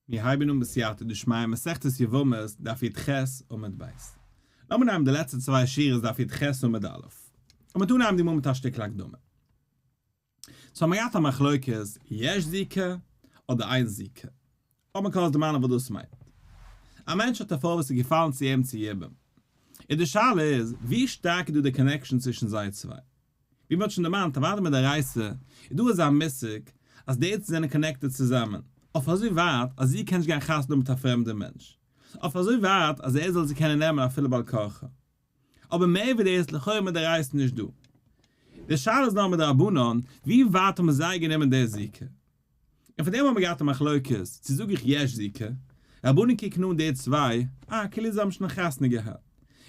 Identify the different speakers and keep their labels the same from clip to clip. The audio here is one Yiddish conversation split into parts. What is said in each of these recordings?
Speaker 1: מיר הייבן אן בסייעתא דשמיא מסכת יבמות דף יט ח עמוד ב'. לאמיר אנהייבן די לעצטע צוויי שורות דף יט ח עמוד א'. לאמיר אנהייבן די מאל מיט א שטיקל הקדמה. ס'האבן מיר געהאט א מחלוקת יש זיקה אדער אין זיקה. האט מען קלאר דערמאנען וואס דאס מיינט. א מענטש האט א פרוי וואס איז געפאלן צו אים צו יבום. און די שאלה איז ווי שטארק איז דא די קאנעקשאן צווישן זיי צוויי. ווי מ'האט שוין דערמאנט אוודאי מיט די רייסע, איז דא אזא מושג אז די עצות זענען קאנעקטעד צוזאמען, אויף אזוי ווייט אז איר קענט נישט גיין חתונה מיט א פרעמדער מענטש, אויף אזוי ווייט אז ער זאל זי קענען נעמען אפילו בעל כרחה. אבער מער ווי דאס, לכאורה מיט די רייסע נישט דא. די שאלה איז נאר מיט די רבנן, ווי ווייט האבן זיי גענומען די זיקה? און פארדעם האבן מיר געהאט א מחלוקת צו זאג איך יש ז כ, רבנים קוקן אן די צוויי אה כאילו זיי האבן שוין א חתונה געהאט,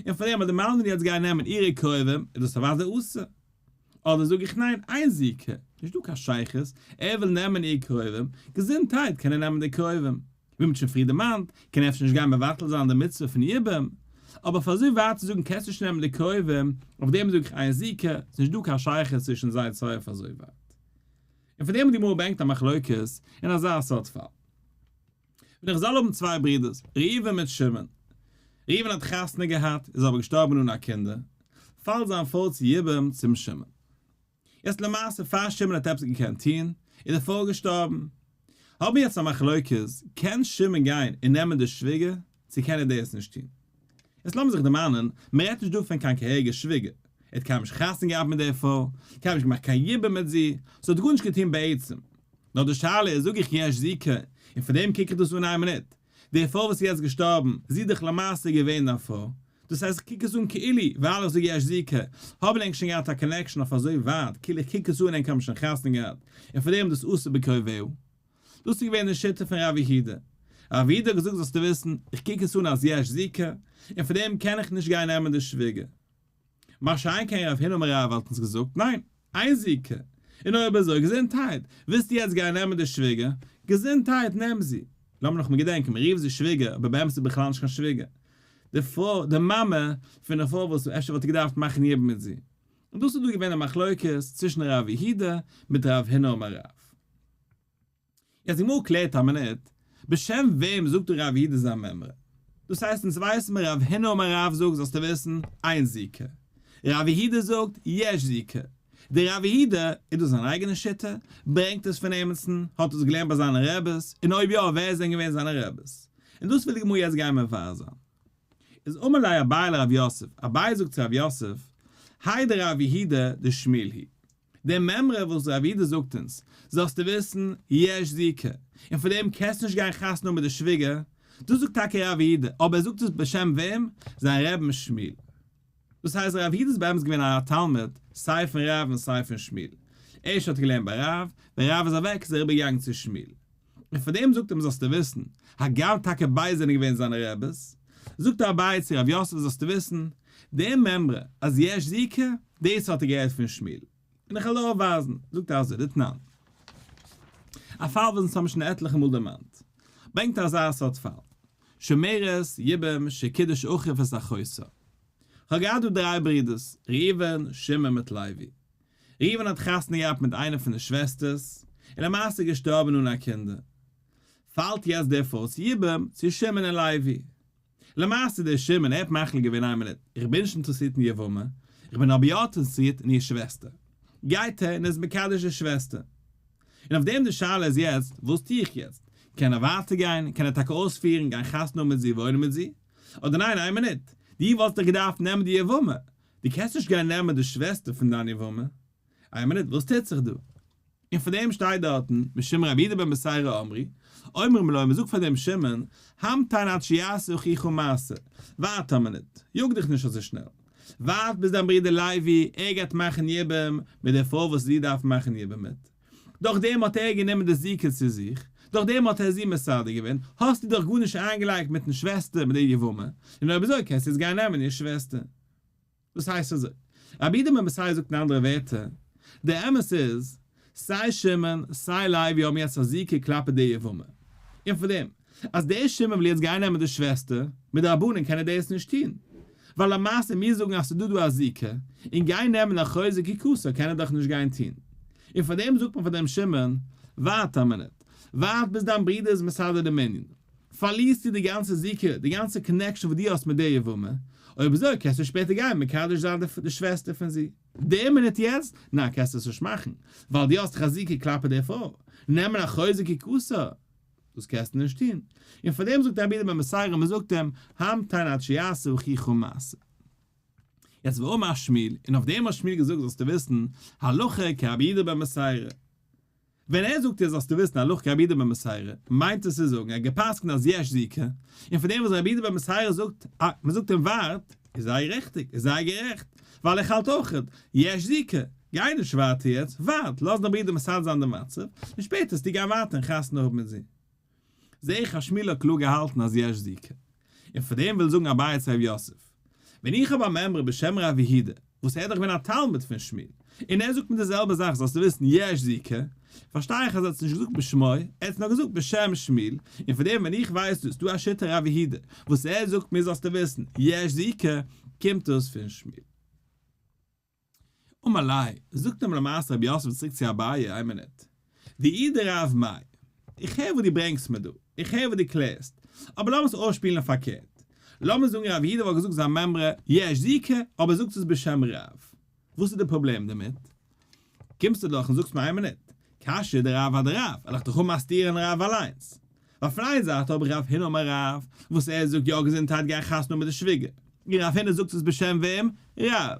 Speaker 1: און פארדעם אז די מלמדים יעצט גייען נעמען אירע קרובים איז דאס אוודאי אסור, אדער זאג איך ניין איין ז כ נישט דא קיין שייכות, ער וויל נעמען איר קרובים, געזונטהייט קען ער נעמען די קרובים, ווי מ'האט שוין פריער דערמאנט קען ער אפשר נישט גיין מבטל זיין די מצוה פון יבום, אבער פאר אזוי ווייט צו זאגן קענסט נישט נעמען די קרובים, אויף דעם זאג איך איין ז כ, ס'נישט דא קיין שייכות צווישן זיי צוויי אויף אזוי ווייט. און פון דעם האט די גמרא ברענגט א מחלוקת אין אזא סארט פאל. ווען די חזל האבן צוויי ברידערס, ראובן מיט שמעון. ראובן האט חתונה געהאט, איז אבער געשטארבן אן א קינדער, פאלט זיין פאלט צו יבם צום שמעון. יעצט למעשה פאר שמעון האט עפעס געקענט טון, איז די פרוי געשטארבן. האבן מיר יעצט א מחלוקת, קען שמעון גיין און נעמען די שוויגער? צו קען ער דאס נישט טון? יעצט לאמיר זיך דערמאנען, מען רעדט נישט דא פון קיין כהרגער שוויגער, ער האט קיינמאל נישט חתונה געהאט מיט דער פרוי, קיינמאל נישט געמאכט קיין יבום מיט זי, זי האט גארנישט געטון בעצם. נאר די שאלה איז, זאג איך יש ז כ, און פון דעם קוק איך דאס אן איין מינוט, די פרוי וואס איז יעצט געשטארבן, זי איז דאך למעשה געווען דיין פרוי, דאס הייסט איך קוק עס אן כאילו, ווייל איך זאג יש ז כ, האבן ענק שוין געהאט א קאנעקשאן אויף אזוי ווייט, כאילו איך קוק עס אן ענק האבן שוין חתונה געהאט, און פון דעם איז דאס אסור בקרובהו. דאס איז געווען די שיטה פון רבי הידא. רבי הידא האט געזאגט זאלסטו וויסן, איך קוק עס אן אז יש זיקה, און פון דעם קען איך נישט גיין נעמען די שוויגער. מה שאין כן רב הינא מרייאוו וואלט אונז געזאגט, ניין, איין זיקה, און אויב אזוי געזונטהייט, ווילסטו יעצט גיין נעמען די שוויגער, געזונטהייט, נעם זי. לאמיר נאכאמאל געדענקען, מען רופט זי שוויגער, אבער באמת איז זי בכלל נישט קיין שוויגער. די פרוי, די מאמע, פון די פרוי וואס אפשר וואלט ער געדארפט מאכן יבום מיט זי. און דאס איז דא געווען די מחלוקת צווישן רבי הידא מיט רב הינא מרייאוו. יעצט די גמרא קלערט א מינוט, בשם וועם זאגט דא רב יהודה זיין מימרא? דאס הייסט אונז ווייסן מיר רב הנה אמר רב זאגט זאלסטו וויסן, איין זיקה. רב יהודה זאגט, יש זיקה. דער רב יהודה, איז דאס זיין אייגענע שיטה? ברענגט עס פון עמיצן? האט עס געלערנט ביי זיינע רעבעס? און אויב יא ווער זענען געווען זיינע רעבעס? און דאס וויל די גמרא יעצט גיין מבאר זיין. איז אמר ליה אביי לרב יוסף, אביי זאגט צו רב יוסף, היי דער רב יהודה דער שמיל הי. די מימרא וואס רב איד זאגט אונז, זאלסטו וויסן, יש זיקה, און פאר דעם קענסטו נישט גיין חתונה האבן מיט די שוויגער, דאס זאגט טאקע רב איד, אבער ער זאגט עס בשם וועם? זיין רעבן שמיל. דאס הייסט רב איד איז באמת געווען א תלמיד סיי פון רב און סיי פון שמיל. ערשט האט ער געלערנט ביי רב, ווען רב איז אוועק איז ער איבערגעגאנגען צו שמיל. און פאר דעם זאגט ער אים זאלסטו וויסן, הגם טאקע ביידע זענען געווען זיינע רעבעס, זאגט דער אביי צו רב יוסף זאלסטו וויסן, די מימרא אז יש זיקה, דאס האט ער געהערט פון שמואל, און איך העל אויף ווייזן, זאגט ער אזוי, דתנן, א פאל וואס אונז האבן שוין עטליכע מאל דערמאנט, ברענגט אזא סארט פאל, שמערת יבם ש קידוש אחיו את אחותו, איך האב געהאט דא דריי ברידערס, ראובן, שמעון מיט לוי, ראובן האט חתונה געהאט מיט איינע פון די שוועסטערס, און למעשה געשטארבן אן א קינדער. פאלט יעצט דער פאות יבם צו שמעון און לוי. למעשה דער שמעון, ער האט מחליט געווען איין מינוט, איך בין נישט אינטערעסירט אין יבמה, איך בין אבער יא אינטערעסירט אין איר שוועסטער. גייט ער און איז מקדש די שוועסטער. און אויף דעם די שאלה איז יעצט, וואס טו איך יעצט? קען ער ווייטער גיין? קען ער טאקע אויספירן, גיין חתונה האבן מיט זי, וואוינען מיט זי? אדער ניין, איין מינוט, דו וואלסט דאך געדארפט נעמען די יבמה, דו קענסט נישט גיין נעמען די שוועסטער פון דיין יבמה? איי מינוט, וואס טוט זיך דא? און פאר דעם שטייט דארטן, משום רבי יהודה בן בשיירא אמרי, אומרים לו, מ'זאגט פאר דעם שמעון, המתן עד שיעשה אחיך מעשה, ווארט א מינוט, יאג דיך נישט אזוי שנעל, ווארט ביז דיין ברודער לוי, ער גייט מאכן יבום מיט דער פרוי וואס זי דארף מאכן יבום מיט. דורך דעם האט ער גענומען די זיקה צו זיך, דורך דעם האט ער זי מסדר געווען, האסטו דאך גארנישט איינגעלייגט מיטן שוועסטער מיט די יבמה, און אויב אזוי קענסטו יעצט גיין נעמען איר שוועסטער. דאס הייסט אזוי, רבי איתמר מסייע זאגט אין אנדערע ווערטער, דער אמת איז, סיי שמעון, סיי לוי האבן יעצט א זיקה כלפי די יבמה, און פון דעם, אז דער שמעון וויל יעצט גיין נעמען די שוועסטער, מדרבנן קען ער דעיס נישט טוהן. ווייל למעשה מיר זאגן אז ס'איז דא דא א זיקה, און גיין נעמען א חוזק כי כסא קען ער דאך נישט גיין טוהן. און פאר דעם זאגט מען פאר דעם שמעון, ווארט א מינוט, ווארט ביז דיין ברודער איז מסדר דעם ענין. פארלירסטו די גאנצע זיקה, די גאנצע קאנעקשאן וואס דו האסט מיט דער יבמה. אויב אזוי קענסטו שפעטער גיין מקדש זיין די שוועסטער פון זי. דער מינוט יעצט? ניין קענסטו עס נישט מאכן, ווייל דו האסט דאך א זיקה כלפי דער פרוי. נעמען א חוזק כי כסא? דאס קענסטו נישט טון. און פאר דעם זאגט רבי דער מסייע רב מען זאגט אים, המתן עד שיעשה וכיכו מעשה. יעצט ואמר ר' שמואל, און אויף דעם האט שמואל געזאגט זאלסטו וויסן הלכה כרבי דער בן מסייע רב. ווען ער זאגט דיר זאלסטו וויסן הלכה כרבי דער בן מסייע רב, מיינט עס צו זאגן ער האט גע'פסק'נט אז יש זיקה, און פאר דעם וואס רבי דער בן מסייע רב זאגט, מען זאגט אים ווארט, איז זייער ריכטיג, איז זייער גערעכט, ווייל איך האלט אויך יש זיקה, גיי נישט ווייטער יעצט, ווארט, לאז דיין ברודער מסדר זיין די מצב, און שפעטער וועסטו גיין ווייטער און חתונה האבן מיט זי. זע איך אז שמואל האט קלאר געהאלטן אז יש זיקה, און פאר דעם וויל זאגן אביי צו ר' יוסף, ווען איך האב א מעמרא בשם ר' אביהודה, וואס ער איז דאך געווען א תלמיד פון שמואל, און ער זאגט מיר די זעלבע זאך זאלסטו וויסן יש זיקה, פארשטיי איך אז ער האט עס נישט געזאגט בשמו, ער האט עס נאר געזאגט בשם שמיל, און פון דעם ווען איך ווייס דאס דא א שיטה רבי הידע וואס ער זאגט מיר זאלסטו וויסן יש זיקה קומט דאס פון שמיל. ומלאי, זאגט נאר למעשה רבי יוסף צוריק צו אביי, איין מינוט. די איד רב מאיר, איך הער וואס דו ברענגסט מיר דא, איך הער וואס דו קלערסט, אבער לאמיר עס אויסשפילן פארקערט. לאמיר זאגן רבי הידע וואלט געזאגט זיין מימרא יש זיקה אבער ער זאגט עס בשם רב. וואס איז די פראבלעם דערמיט? קומסטו דאך און זאגסט מיר איין מינוט, קשיא דער רב האט דער רב, עלעך דאך אנמאסטירען רב אליינס. ווייל פון איין זייט האב איך רב הנה אמר רב, וואס ער זאגט יא געזונטהייט גיי חתונה מיט די שוויגער, און רב הנה זאגט עס בשם וועם? רב.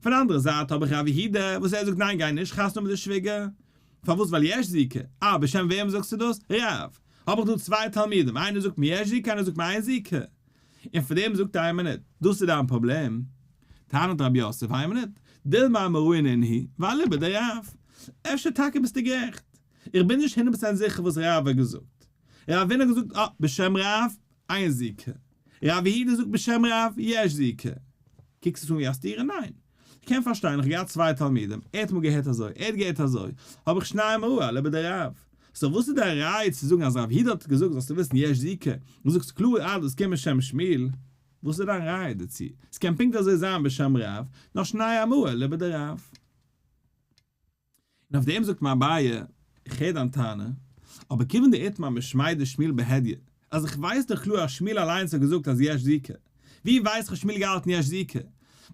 Speaker 1: פון אנדערע זייט האב איך רב יהודה, וואס ער זאגט ניין גיי נישט חתונה מיט די שוויגער. פארוואס ווייל יש זיקה? אה בשם וועם זאגסטו דאס? רב. האב איך דא צוויי תלמידים, איינער זאגט מיר יש זיקה איינער זאגט מיר אין זיקה. און פון דעם זאגט איין מינוט, דאס איז דיין פראבלעם? טענה'ט רבי יוסף, איין מינוט, דילמא מראין עינהי, ואליבא דרב, אפשר טאקע ביסטו גערעכט, איך בין נישט הונדערט פראצענט זיכער וואס רב האט געזאגט, ר' אבין האט געזאגט אה, בשם רב, איין זיקה, ר' יהודה זאגט בשם רב, יש זיקה, קוקסט עס אן ווי א סתירה? ניין, כ'קען פארשטיין, איך האב געהאט צוויי תלמידים, ער האט מאל געהערט אזוי, ער האט געהערט אזוי, האב איך שניי אמרו אלה ביי די רב. סאו וואס איז די ראי' צו זאגן אז רב היד האט געזאגט זאלסטו וויסן יש זיקה, דו זאגסט קלאר אז דאס קומט משם שמיל, וואס איז דיין ראי' דערצו? ס'קען פונקט אזוי זיין בשם רב, נאר שניי אמרו אלה ביי די רב. און אויף דעם זאגט מיר אביי, איך הער דיין טענה, אבער כיוון דאית מה משמי' דשמואל בהדיא, אז איך ווייס דאך קלאר אז שמואל אליינס האט געזאגט אז יש זיקה, ווי ווייסט האט שמואל געהאלטן יש זיקה?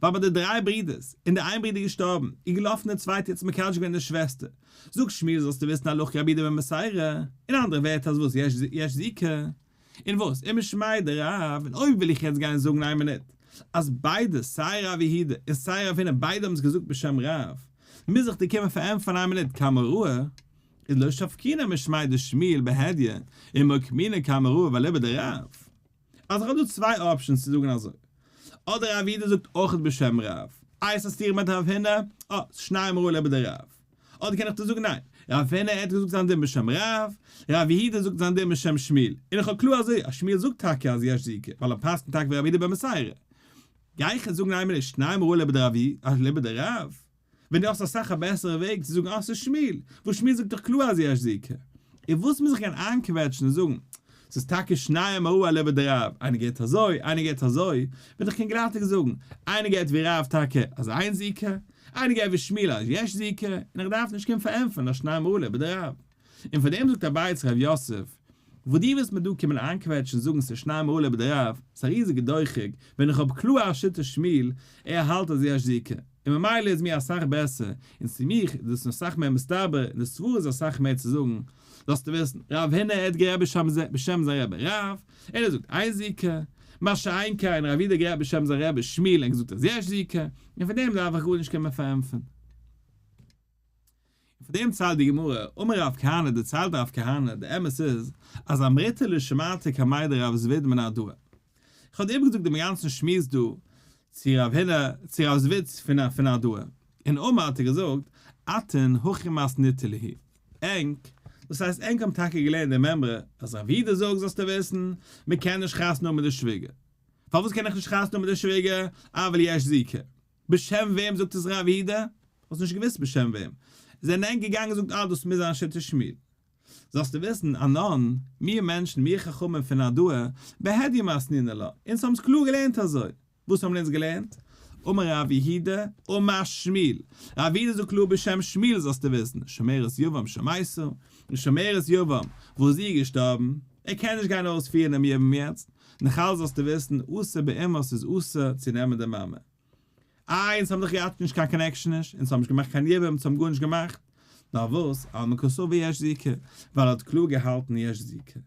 Speaker 1: ווייל ביי די דריי ברודערס, און די איין ברודער איז געשטארבן, איז געלאפן די צווייטע און האט מקדש געווען די שוועסטער, זאגט שמואל זאלסטו וויסן הלוך כרבי דבי מסיירא, אין אנדערע ווערטער אז וואס יש זיקה? און וואס אימער שמעי' דער רב, און אויב וויל איך יעצט גיין זאגן איין מינוט אז ביידע סיי ר' יהודה און סיי ר' הונא ביידע האבן עס געזאגט בשם רב, מוז איך דיר קומען פארענטפערן איין מינוט קמא ראה, איז לא שפקינא משמעי' דער שמואל בהדיא, און מאי קמינא קמא ראה ואליבא דרב. אז איך האב דא צוויי אפשענס צו זאגן אזוי, אדער ר' יהודה זאגט אויך בשם רב, איי עס איז סתירה מיט ר' הונא, אה, שניהם ראה אליבא דרב. אדער קען איך דיר זאגן ניין, רב פינא האט געזאגט זיין דין בשם רב, רב יהודה זאגט זיין דין בשם שמואל, און איך האב קלאר אזוי אז שמואל זאגט טאקע אז יש זיקה, ווייל ער פסק'נט טאקע ווי רב יהודה במסירה. גיי איך יעצט זאגן איינמאל נישט ניין מראה לבי דרב י אז לבי די רב? ווען דו האסט אסאך א בעסערע וועג צו זאגן אז ס'איז שמואל, וואס שמואל זאגט דאך קלאר אז יש זיקה. און וואס מוז איך גיין איינקוועטשן און זאגן ס'איז טאקע שניהם אהוה לעבער דער רב, איינער געהערט אזוי, איינער געהערט אזוי, וועל איך קאנגראטיג זאגן, איינער געהערט ווי רב טאקע אז איין זי ק, איינער געהערט ווי שמילה אז יש זי ק, און איך דארף נישט קומען פאר ענטפערן אז שניהם אהוה לעבער דער רב. און פאר דעם זאגט אביי צו ר' יוסף, וואס דו ווילסט מיר דא קומען איינקוועטשן זאגן ס'איז שניהם אהוה לעבער דער רב, ס'איז א ריזיגע דוחק, ווען איך האב קלאר א שיטת שמיל, ער האלט אז יש זי ק, און ממילא איז מיר אסאך בעסער, און צו מיך איז דאס אסאך מער מסתבר, און די סברא איז אסאך מער צו זאגן, זאלסטו וויסן, רב הנה עד גערעדט בשם זיי, בשם זיין רבי רב, ער האט געזאגט איין זי ק, מה שאין כן רב איד האט גערעדט בשם זיין רבי שמיל און געזאגט אז יש זי ק, און פון דעם דארף איך גארנישט קומען פארענטפערן. און פון דעם ציילט די גמרא, אמר רב כהנא, דערציילט רב כהנא, די אמת איז, אז אמריתא לא שמעתי כמאי דרב זביד מן הדא. איך האב איבערגעזאגט דעם גאנצן שמועס דא צו רב הנה, צו רב זביד פון הדא, און אמר האט ער געזאגט, אתן הכי מאסניתא ליהי. ענק, דאס הייסט ענק האבן טאקע געלערנט די מימרא אז רב ווידער זאגט זאלסטו וויסן, מען קען נישט חתונה האבן מיט די שוויגער. פארוואס קען איך נישט חתונה האבן מיט די שוויגער? אבל יש זיקה. בשם וועם זאגט עס רב ווידער? האסט נישט געוויסט בשם וועם. זענען ענק געגאנגען און געזאגט אה דאס מוז זיין שיטת שמואל. זאלסטו וויסן, א נאן, מיר מענטשן, מיר חכמים פון הדור, בהדיומה אסנינא לה, אונז האבן עס קלאר געלערנט אזוי. וואס האבן אונז געלערנט? אמר ר' יהודה, אמר שמואל. ר' יהודה זאגט קלאר בשם שמואל זאלסטו וויסן, שומרת יבם שמייסר, אין שומרת יבם וואס זי איז געשטארבן, ער קען נישט גיין אויספירן דעם יבם יעצט, נאך אלס זאלסטו וויסן אסור באימהות איז אסור צו נעמען די מאמע. איי אונז האבן דאך געהאט נישט קיין קאנעקשאן נישט, אונז האבן נישט געמאכט קיין יבם, אונז האבן גארנישט געמאכט. פארוואס? על מקצו ויש זיכר, ווייל ער האט קלאר געהאלטן יש זיכר.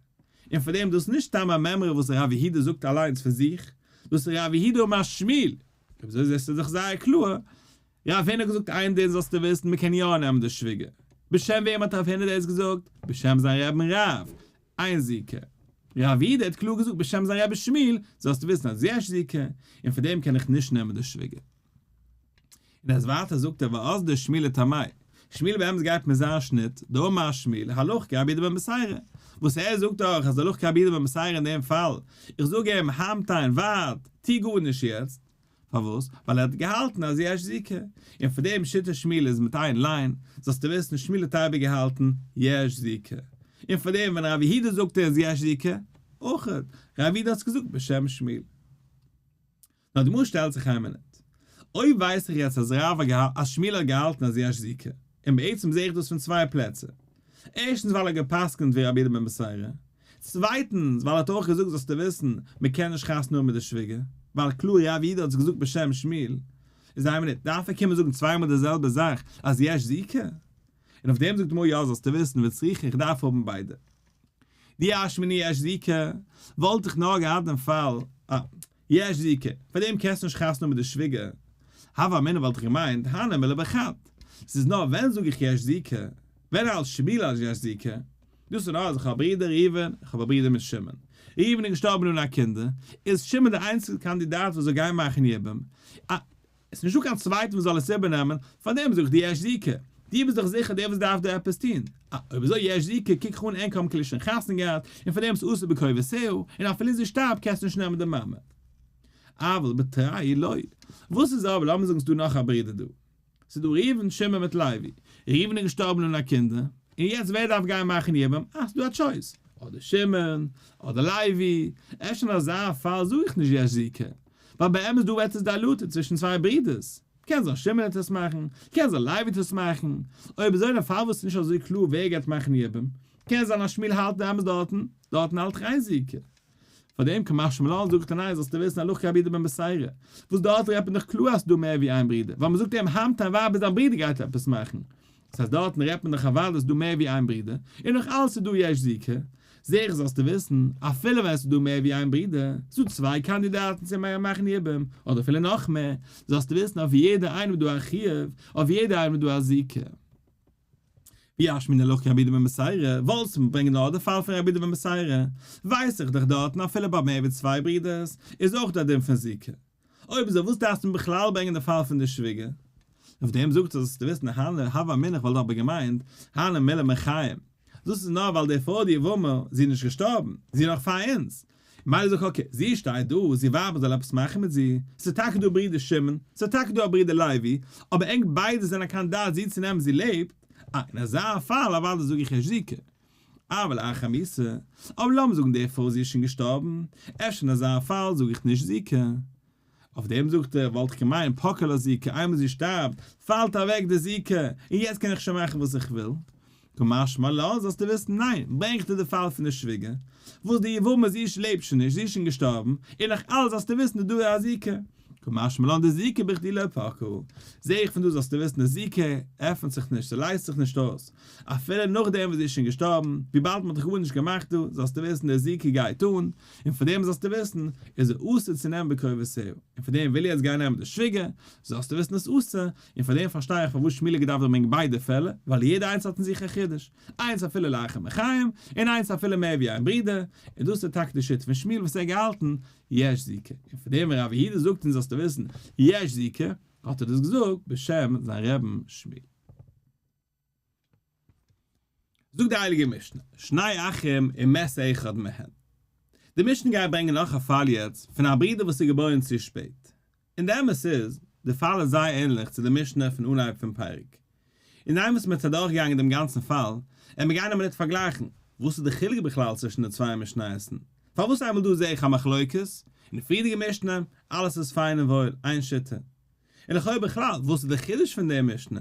Speaker 1: און פאר דעם, דאס איז נישט סתם א מימרא וואס הרב יהודה זאגט אליינס פון זיך, דאס איז הרב יהודה משמיל, אויב אזוי זעסטו דאך זייער קלאר, רב הונא האט געזאגט איין דין זאלסטו וויסן, מען קען יא נעמען די שוויגער. בשם וועם האט רב הונא דאס געזאגט? בשם זיין רעבן רב, איין זיכר. רב יהודה האט קלאר געזאגט בשם זיין רבי שמיל, זאלסטו וויסן אז יש זיכר, און פאר דעם קען איך נישט נעמען די שוויגער. און אז ווייטער זאגט ער ואסדר שמיל לטעמי', שמיל באמת גייט מיט זיין שניט, דאמר שמיל, הלוך כאבידה במסיירא, וואס ער זאגט אויך אז הלוך כאבידה במסיירא אין דעם פאל, איך זאג אים המתן, ווארט, טו גארנישט יעצט, פארוואס? ווייל ער האט געהאלטן אז יש זיקה, און פון דעם שיטת שמיל איז מיט איין ליין, זאלסטו וויסן שמיל האט אייביג געהאלטן יש זיקה, און פון דעם ווען ר' יהודה זאגט איז יש זיקה, אויך, ר' יהודה האט עס געזאגט בשם שמיל. נאדמור שטעלט זיך איין מינוט. אויב ווייס איך יעצט אז רב האט געהאלט אז שמואל האט געהאלטן אז יש זיקה, און בעצם זעה איך דאס פון צוויי פלעצער. ערשטנס ווייל ער האט געפסקנט ווי רבי יהודה בן בשרה. צווייטנס ווייל ער האט אויך געזאגט זאלסטו וויסן, מען קען נישט חתונה האבן מיט די שוויגער, ווייל קלאר רבי יהודה האט עס געזאגט בשם שמואל. איז איין מינוט, דארף ער קומען זאגן צוויי מאל די זעלבע זאך אז יש זיקה? און אויף דעם זאגט מור יא זאלסטו וויסן וצריך איך דארף האבן ביידע. די אשמני יש זיקה וואלט איך נאר געהאט אין פאל א. יש ז ק, פאר דעם קענסטו נישט חתונה מיט די שוויגער. הווה אמינא וואלט איך געמיינט הנה מילה בחד. ס'איז נאר ווען זאג איך יש ז ק, ווען אלס שמילה אז יש ז ק. דאס איז נאר אז איך האב א ברודער ראובן, איך האב א ברודער מיט שמעון. ראובן איז געשטארבן אן א קינדער, איז שמעון דער איינציגסטער קאנדידאט וואס זאל גיין מאכן יבום. עס איז נישט דא קיין צווייטער וואס זאל עס איבערנעמען, פארדעם זאג איך דיר יש זיקה. דו ביסט דאך זיכער דער וואס דארף דא עפעס טון. אה, אויב אזוי יש זיקה, קוק איך אן ענק האבן כלל שוין חתונה געהאט, און פארדעם איז אסור בקרבתהו, און אפילו און זי שטארבט קענסטו נישט נעמען די מעמד. אבל בתראי לא. וואס איז אבער, לאמיר זאגן ס'איז דא נאך א ברודער דא. ס'איז דא ראובן, שמעון מיט לוי. ראובן איז געשטארבן אן א קינדער, און יעצט ווער דארף גיין מאכן יבום? אה, ס'איז דא א טשויס. אדער שמעון, אדער לוי. אפשר אין אזא פאל זאג איך נישט יש זיקה. ווייל באמת דא וועט עס דיילוטעד צווישן צוויי ברידערס, קען זיין שמעון העט עס מאכן, קען זיין לייב העט עס מאכן, אויב אזוי דען פארוואס איז נישט אזוי קלאר ווער גייט מאכן די יבום, קען זיין אז שמואל האלט באמת דארטן, דארטן האלט ר' אייזיק. פארדעם כמאך שמואל אן זאגט אין איי זאלסטו וויסן הלכה כהאב ידע בן בשערה, וואס דארט רעדט מען דאך קלאר אז ס'דא מער ווי איין ברידער, ווייל מ'זאגט איהם האמתן ווייב איז דיין ברידער גייט עפעס מאכן, דאס אז דארטן רעדט מען דאך אז ווייל עס איז דא מער ווי איין ברודער, און נאך אלס איז דא יש זיקה, זע איך זאלסטו וויסן, אפילו ווען עס איז דא מער ווי איין ברודער, ס'איז דא צוויי קאנדידאטן צו מהר א מאכן יבום, אדער אפילו נאך מער, זאלסטו וויסן אויף יעדע איינעם איז דא א חיוב, אויף יעדע איינעם איז דא א זיקה. ווי אש מן הלוח קען רבי דוד בן מסעירא, וואלסטו מיר ברענגען נאר די פאל פון רבי דוד בן מסעירא, ווייס איך דאך דארטן אפילו ביי מער ווי צוויי ברודערס, איז אויך דא א דין פון זיקה. אויב אזוי וואס דארפסטו בכלל ברענגען די פאל פון די שוויגער? אויף דעם זאגט ער זאלסטו וויסן הנה הוה אמינא כ'וואלט דאך בה געמיינט הנה מילא מיר חיים דאס איז נאר ווייל די פרוי די יבמה זי איז נישט געשטארבן זי איז נאך פאר אונז מילא זאג אקעי זי שטייט דא זי ווארט מען זאל עפעס מאכן מיט זי ס'איז טאקע דא א ברודער שמעון ס'איז טאקע דא א ברודער לוי אבער ענק ביידע זענען קיין דעת זי צו נעמען זי לעבט אה אין אזא פאל אוודאי זאג איך ייש כ. אבל אין חמיסה, אבער לאמיר זאגן דערפאר אז זי איז שוין געשטארבן, אפשר אין אזא פאל זאג איך נישט זיקה. אויף דעם זאגט ער, וואלט איך געמיינט פקע לה זיקה, איינמאל זי שטארבט, פאלט אוועק די זיקה, און יעצט קען איך שוין מאכן וואס איך וויל. כמשמע לן זאלסטו וויסן, ניין, ברענגט ער די פאל פון די שוויגער, וואס די יבמה זי לעבט שוין נישט, זי איז שוין געשטארבן, און נאך אלעס זאלסטו וויסן איז דא א זיקה, כמשמע לן דזיקה בכדי לא פקו, זע איך פון דא זאלסטו וויסן די זיקה עפנט זיך נישט, זי לייזט זיך נישט אויס, אפילו נאכדעם וואס זי איז שוין געשטארבן, וויבאלד מען האט דאך גארנישט געמאכט דא, זאלסטו וויסן די זיקה גייט אן, און פון דעם זאלסטו וויסן איז ער אסור צו נעמען בקרבותו, און פון דעם וויל איך יעצט גיין נעמען די שוויגער, זאלסטו וויסן איז אסור, און פון דעם פארשטיי איך פארוואס שמואל האט געדארפט ברענגען ביידע פעלער, ווייל יעדע איינס האט אין זיך א חידוש, איינס אפילו לאחר מחיים, און איינס אפילו מער ווי איין ברודער, און דאס איז טאקע די שיטה פון שמואל וואס ער האט געהאלטן, יש ז ק, און פון דעם ווען רבי יהודה זאגט אונז זאלסטו וויסן יש ז ק, האט ער דאס געזאגט בשם זיין רעבן שמואל. זאגט די הייליגע משנה, שני אחים אם מת אחד מהם. די משנה גייט ברענגען נאך א פאל יעצט, פון א ברודער וואס איז געבוירן צו שפעט. און די אמת איז, די פאל איז זייער ענליך צו די משנה פון אנהייב פון פרק. און היינט וואס מען האט זיך אדורכגעגאנגען דעם גאנצן פאל, עמער גיין א מינוט פארגלייכן, וואס איז די חילוק בכלל צווישן די צוויי משניות? פארוואס איינמאל דא זעה איך א מחלוקת, און די פריערדיגע משנה, אלעס איז פיין און וואויל, איין שיטה? און לכאו' בכלל, וואס איז די חידוש פון די משנה?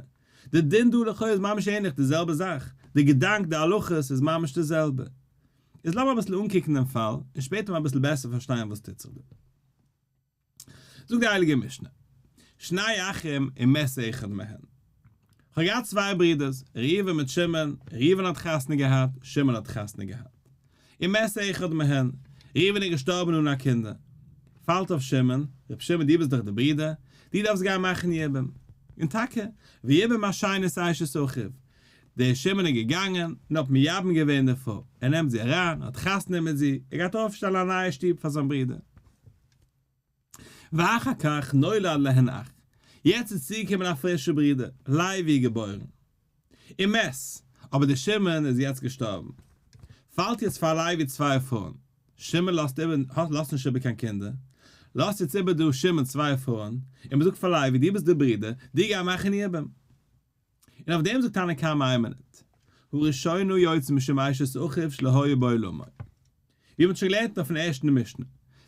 Speaker 1: די דין דא לכאו' איז ממש ענליך די זעלבע זאך, די געדאנק, די הלכות, איז ממש די זעלבע. איז לאמיר אביסל אנקוקן דעם פאל, און שפעטער אביסל בעסער פארשטיין וואס טוט זיך דא. זאגט די הייליגע משנה, שני אחים אם מת אחד מהם, כ'האב געהאט צוויי ברודערס, ראובן מיט שמעון, ראובן האט חתונה געהאט, שמעון האט חתונה געהאט. אם מת אחד מהם, ראובן איז געשטארבן אן א קינדער, פאלט אויף שמעון, רבי שמעון דו ביסט דאך דער ברודער, דו דארפסט גיין מאכן יבום. און טאקע, ויבום השנית אשת אחיו, דער שמן איז געגאנגען, און האט מייבם געווען די פרוי, ער נעמט זי אריין, האט חתונה מיט זי, ער גייט אויפשטעלן א נייע שטוב פאר זיין ברודער. ואחר כך נולד להן אח, יעצט איז צוגעקומען א פרישער ברודער, לייבי איז געבוירן. און מת, אבער דער שמן איז יעצט געשטארבן. פאלט יעצט פאר לייבי צוויי פרויען, שמן לאזט איבער, לאזט נישט איבער קיין קינדער, לאזט יעצט איבער דא שמן צוויי פרויען, און מען זאגט פאר לייבי, דו ביסט דער ברודער, דו גיי מאכן מייבם. און אויף דעם זאגט תנא קמא איין מינוט, הוא ראשונו יוצא משום אשת אחיו שלא היה בעולמו. ווי מען האט שוין געלערנט אויפן ערשטן משנה,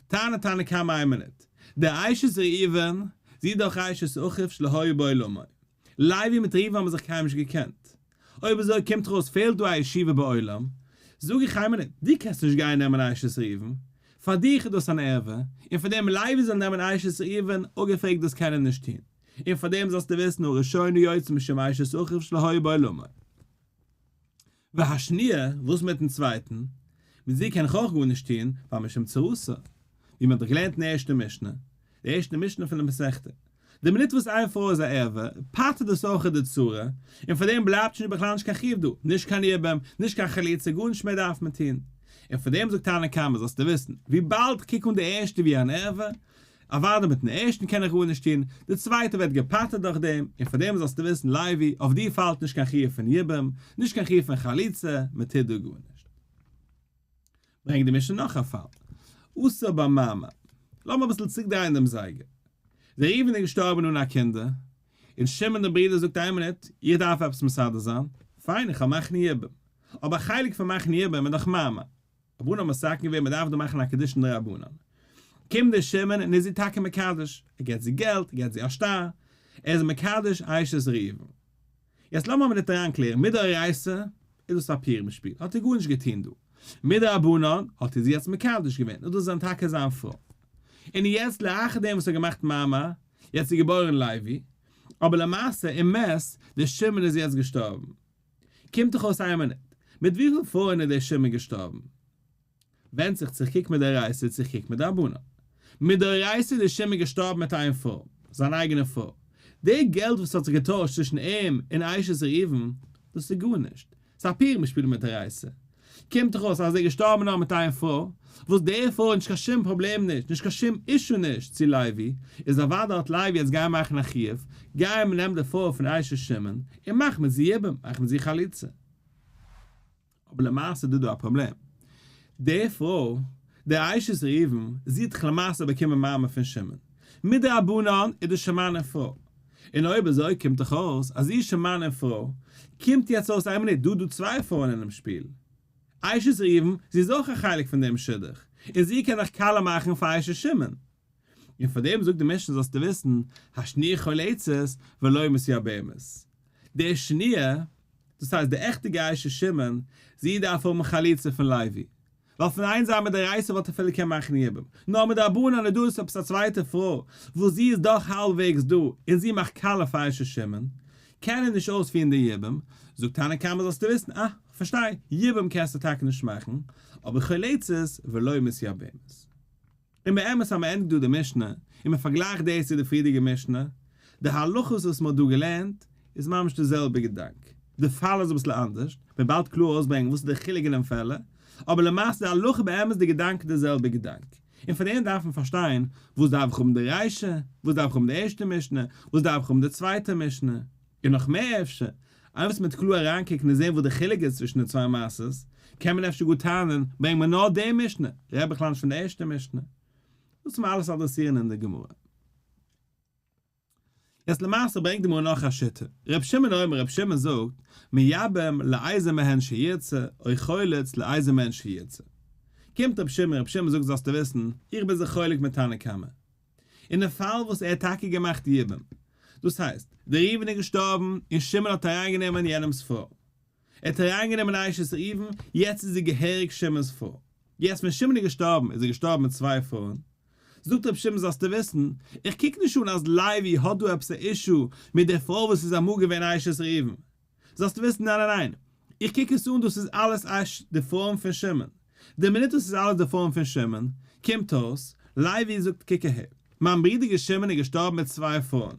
Speaker 1: טענה'ט תנא קמא איין מינוט, די אשת ראובן, זי איז דאך אשת אחיו שלא היה בעולמו. לייבי מיט ראובן האבן זיך קיימאל נישט געקענט. אויב אזוי קומט דאך אויס פעלט דא א ישיבה בעולם. זאג איך איין מינוט, דו קענסט נישט גיין נעמען אשת ראובן. פאר דיך איז דאס אן ערווה, און פאר דעם לייבי זאל נעמען אשת ראובן, אפגעפרעגט דאס קען ער נישט טון. און פאר דעם זאלסטו וויסן הראשונה יוצא משמיא שסוחב שלא היה בו אלא מים. והשניה, וואס מיטן צווייטן? מיט זי קען איך אויך גארנישט טון, ווייל משום צרותו. ווי מען האט דאך געלערנט אין ערשטע משנה, די ערשטע משנה פון די מסכתא. די מינוט וואס איין פרוי איז א ערווה, פטר'ט דאס אויך אט די צרה, און פאר דעם בלייבט שוין בכלל נישט קיין חיוב דא, נישט קיין יבם, נישט קיין חליצה, גארנישט מער דארף מען טון. און פאר דעם זאגט תנא קמא, זאלסטו וויסן, וויבאלד איך קוק אן די ערשטע ווי אן ערווה, אוואדע מיטן ערשטן קען איך גארנישט טון, די צווייטע ווערט געפטר'ט דורך דעם, און פאר דעם זאלסטו וויסן לייבי, אויף דיר פאלט נישט קיין חיוב פון יבום, נישט קיין חיוב פון חליצה, מען טוט דא גארנישט. ברענגט די משנה נאך א פאל, אסור במעמא. לאמיר אביסל צוריקדרייען דעם זייגער. דער ראובן איז געשטארבן אן א קינדער, און שמעון דער ברודער זאגט איין מינוט, איך דארף עפעס מסדר זיין, פיין איך האב מאכן יבום, אבער א חלק פון מאכן יבום איז דאך מעמא, רבנן האט מסכים געווען מען דארף דא מאכן א קידושין דרבנן, קומט דער שמן און איז זי טאקע מקדש, ער געבט זי געלט, ער געבט זי א שטר, ער איז מקדש אשת ראובן. יעצט לאמיר אבער דארט אריין קלערן, מדאורייסה איז דאס א פורים שפיל, האט ער גארנישט געטון דא, מדרבנן האט ער זי יעצט מקדש געווען, איז דאס דען טאקע זיין פרוי? און יעצט לאחר דעם וואס ער האט געמאכט מעמא, יעצט איז געבוירן לוי, אבער למעשה אמת דער שמן איז יעצט געשטארבן, קומט דאך אויס איין מינוט. מיט וויפיל פרויען איז דער שמעון געשטארבן? ווענדט זיך צו איך קוק מדאורייתא צו איך קוק מדרבנן. מדאורייתא איז דער שמעון געשטארבן מיט איין פרוי, זיין אייגענע פרוי. די געלט וואס האט זיך געטוישט צווישן אים און אשת ראובן, דאס איז גארנישט. ס'איז א פירמע שפיל מדאורייתא. קומט דאך אויס אז דער געשטארבענער האט מיט אייער פרוי, וואס די פרוי האט נישט קיין שום פראבלעם נישט, נישט קיין שום אישו נישט צו לייבי, איז אוודאי האט לייבי יעצט גייען מאכן א חיוב, גיי מען נעמט די פרוי פון אשת שמעון, און מאך מיט זי יבום, מאך מיט זי חליצה. אבער למעשה איז דא דא א פראבלעם. די פרוי, די אשת ראובן, זי האט דאך למעשה באקומען מעמד פון שמעון. מדרבנן איז דאס שמעון פרוי. און אויב אזוי קומט דאך אויס אז איר שוין מאן און פרוי, קומט יעצט אויס איין מינוט דא דא צוויי פרויען אינעם שפיל. אשת ראובן, זי איז אויך א חלק פון דעם שידוך, און זי קען דאך כלה מאכן פאר אשת שמעון. און פאר דעם זאגט די משנה זאלסטו וויסן, השניה כל עצות ולא משיא באמת. די שניה, דאס הייסט די עכטע גיישע שמעון, זי דארף האבן חליצה פון לוי. ווייל פון איין זייט מיט די רייסער וואלט ער אפילו קענען מאכן יבום, נאר מיט די ארבענען איז דא עס עפעס א צווייטע פרוי וואס זי איז דאך האלבוועגס דא און זי מאכט כלה פאר ר' שמעון, קען ער נישט אויספירן די יבום, זאגט תנא קמא זאלסטו וויסן, אה, כ'פארשטיי, יבום קענסטו טאקע נישט מאכן, אבער חולצת ולא מיסיאבעמעס. און באמת אז מען ענדיגט דא די משנה, און מען פארגלייכט דאס צו די פריערדיגע משנה, די הלכות וואס מען האט דא געלערנט, איז ממש די זעלבע געדאנק, די פאל איז אביסל אנדערש, מען באלד קלאר אויסברענגען וואס איז די חילוק אין דעם פעלער, אבער למעשה די הלכה באמת די געדאנק איז די זעלבע געדאנק, און פון דעם דארף מען פארשטיין, וואס דארף איך האבן די רישא, וואס דארף איך האבן די ערשטע משנה, וואס דארף איך האבן די צווייטע משנה. און נאך מער אפשר, אייוועלט מיט קלאר אריינקוקן און זען וואס די חילוק איז צווישן די צוויי מעשות, קען מען אפשר גאר טענה'ן, ברענג מיר נאר די משנה, רעד בכלל נישט פון די ערשטע משנה. דאס וועט מען אלעס אדרעסירן אין די גמרא. יעצט למעשה ברענגט די גמרא נאך א שיטה, רבי שמעון אומר, רבי שמעון זאגט, מייבם לאיזה מהן שירצה, או חולץ לאיזה מהן שירצה. קומט רבי שמעון, רבי שמעון זאגט זאלסטו וויסן, איך בין זיך חולק מיט תנא קמא. אינעם פאל וואס ער האט טאקע געמאכט יבום, דאס הייסט, דער ראובן איז געשטארבן און שמעון האט אריינגענומען יענעמ'ס פרוי, ער האט אריינגענומען א אשת ראובן, יעצט איז זי געהעריג שמעון'ס פרוי, יעצט ווען שמעון איז געשטארבן איז ער געשטארבן מיט צוויי פרויען, זאגט רבי שמעון זאלסטו וויסן, איך קוק נישט אן אז לוי האט דא עפעס א אישו מיט די פרוי וואס איז אמאל געווען א אשת ראובן, זאלסט וויסן ניין ניין ניין, איך קוק עס אן דאס איז אלעס אש די פארעם פון שמן, די מינוט דאס איז אלעס די פארעם פון שמן, קומט אויס, לייבי זאגט קוק אהער, מיין ברידער שמן איז געשטארבן מיט צוויי פארען,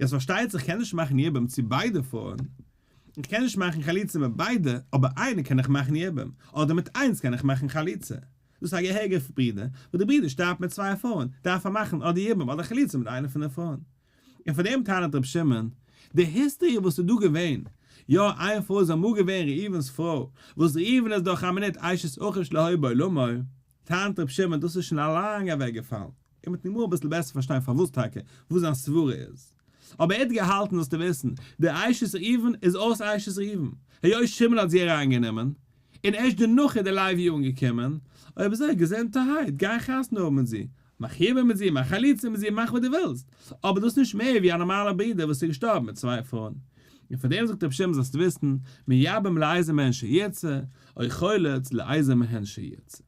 Speaker 1: יעצט פארשטייט זיך איך קען נישט מאכן יבום צו ביידע פארען, איך קען נישט מאכן חליצה מיט ביידע, אבער איינע קען איך מאכן יבום, אדער מיט איינס קען איך מאכן חליצה, דאס איז א געהעריגער ברידער, וואס די ברידער שטארבט מיט צוויי פארען, דארף ער מאכן אדער יבום אדער חליצה מיט איינע פון די פארען. און פאר דעם טענה'ט רבי שמעון, די היסטעריע וואס איז דא געווען, יא איין פרוי איז אמאל געווען ראובן'ס פרוי, וואס ראובן איז דאך א מינוט אשת אחוש להוי בעולמו, טענה'ט רבי שמעון דאס איז שוין א לאנג אוועק געפאלן, און מ'וועט נאכמאל אביסל בעסער פארשטיין פארוואס טאקע, וואס זיין סברה איז. אבער ער האט געהאלטן זאלסטו וויסן, די אשת ראובן איז אויס אשת ראובן, היות שמעון האט זי אריין גענומען, און ערשט דערנאך איז די לוי אנגעקומען, אויב אזוי געזונטערהייט, גיי חתונה האבן מיט זי, מחובר מיט זי, מיין חליצה מיט זי, מאך וואס דו ווילסט, אבער דאס נישט מער ווי א נארמאלער ברודער וואס איז געשטארבן מיט צוויי פרויען. און פאר דעם זאגט רבי שמעון זאלסט וויסן, מייבם לאיזה מהן שירצה, אוי חולץ לאיזה מהן שירצה.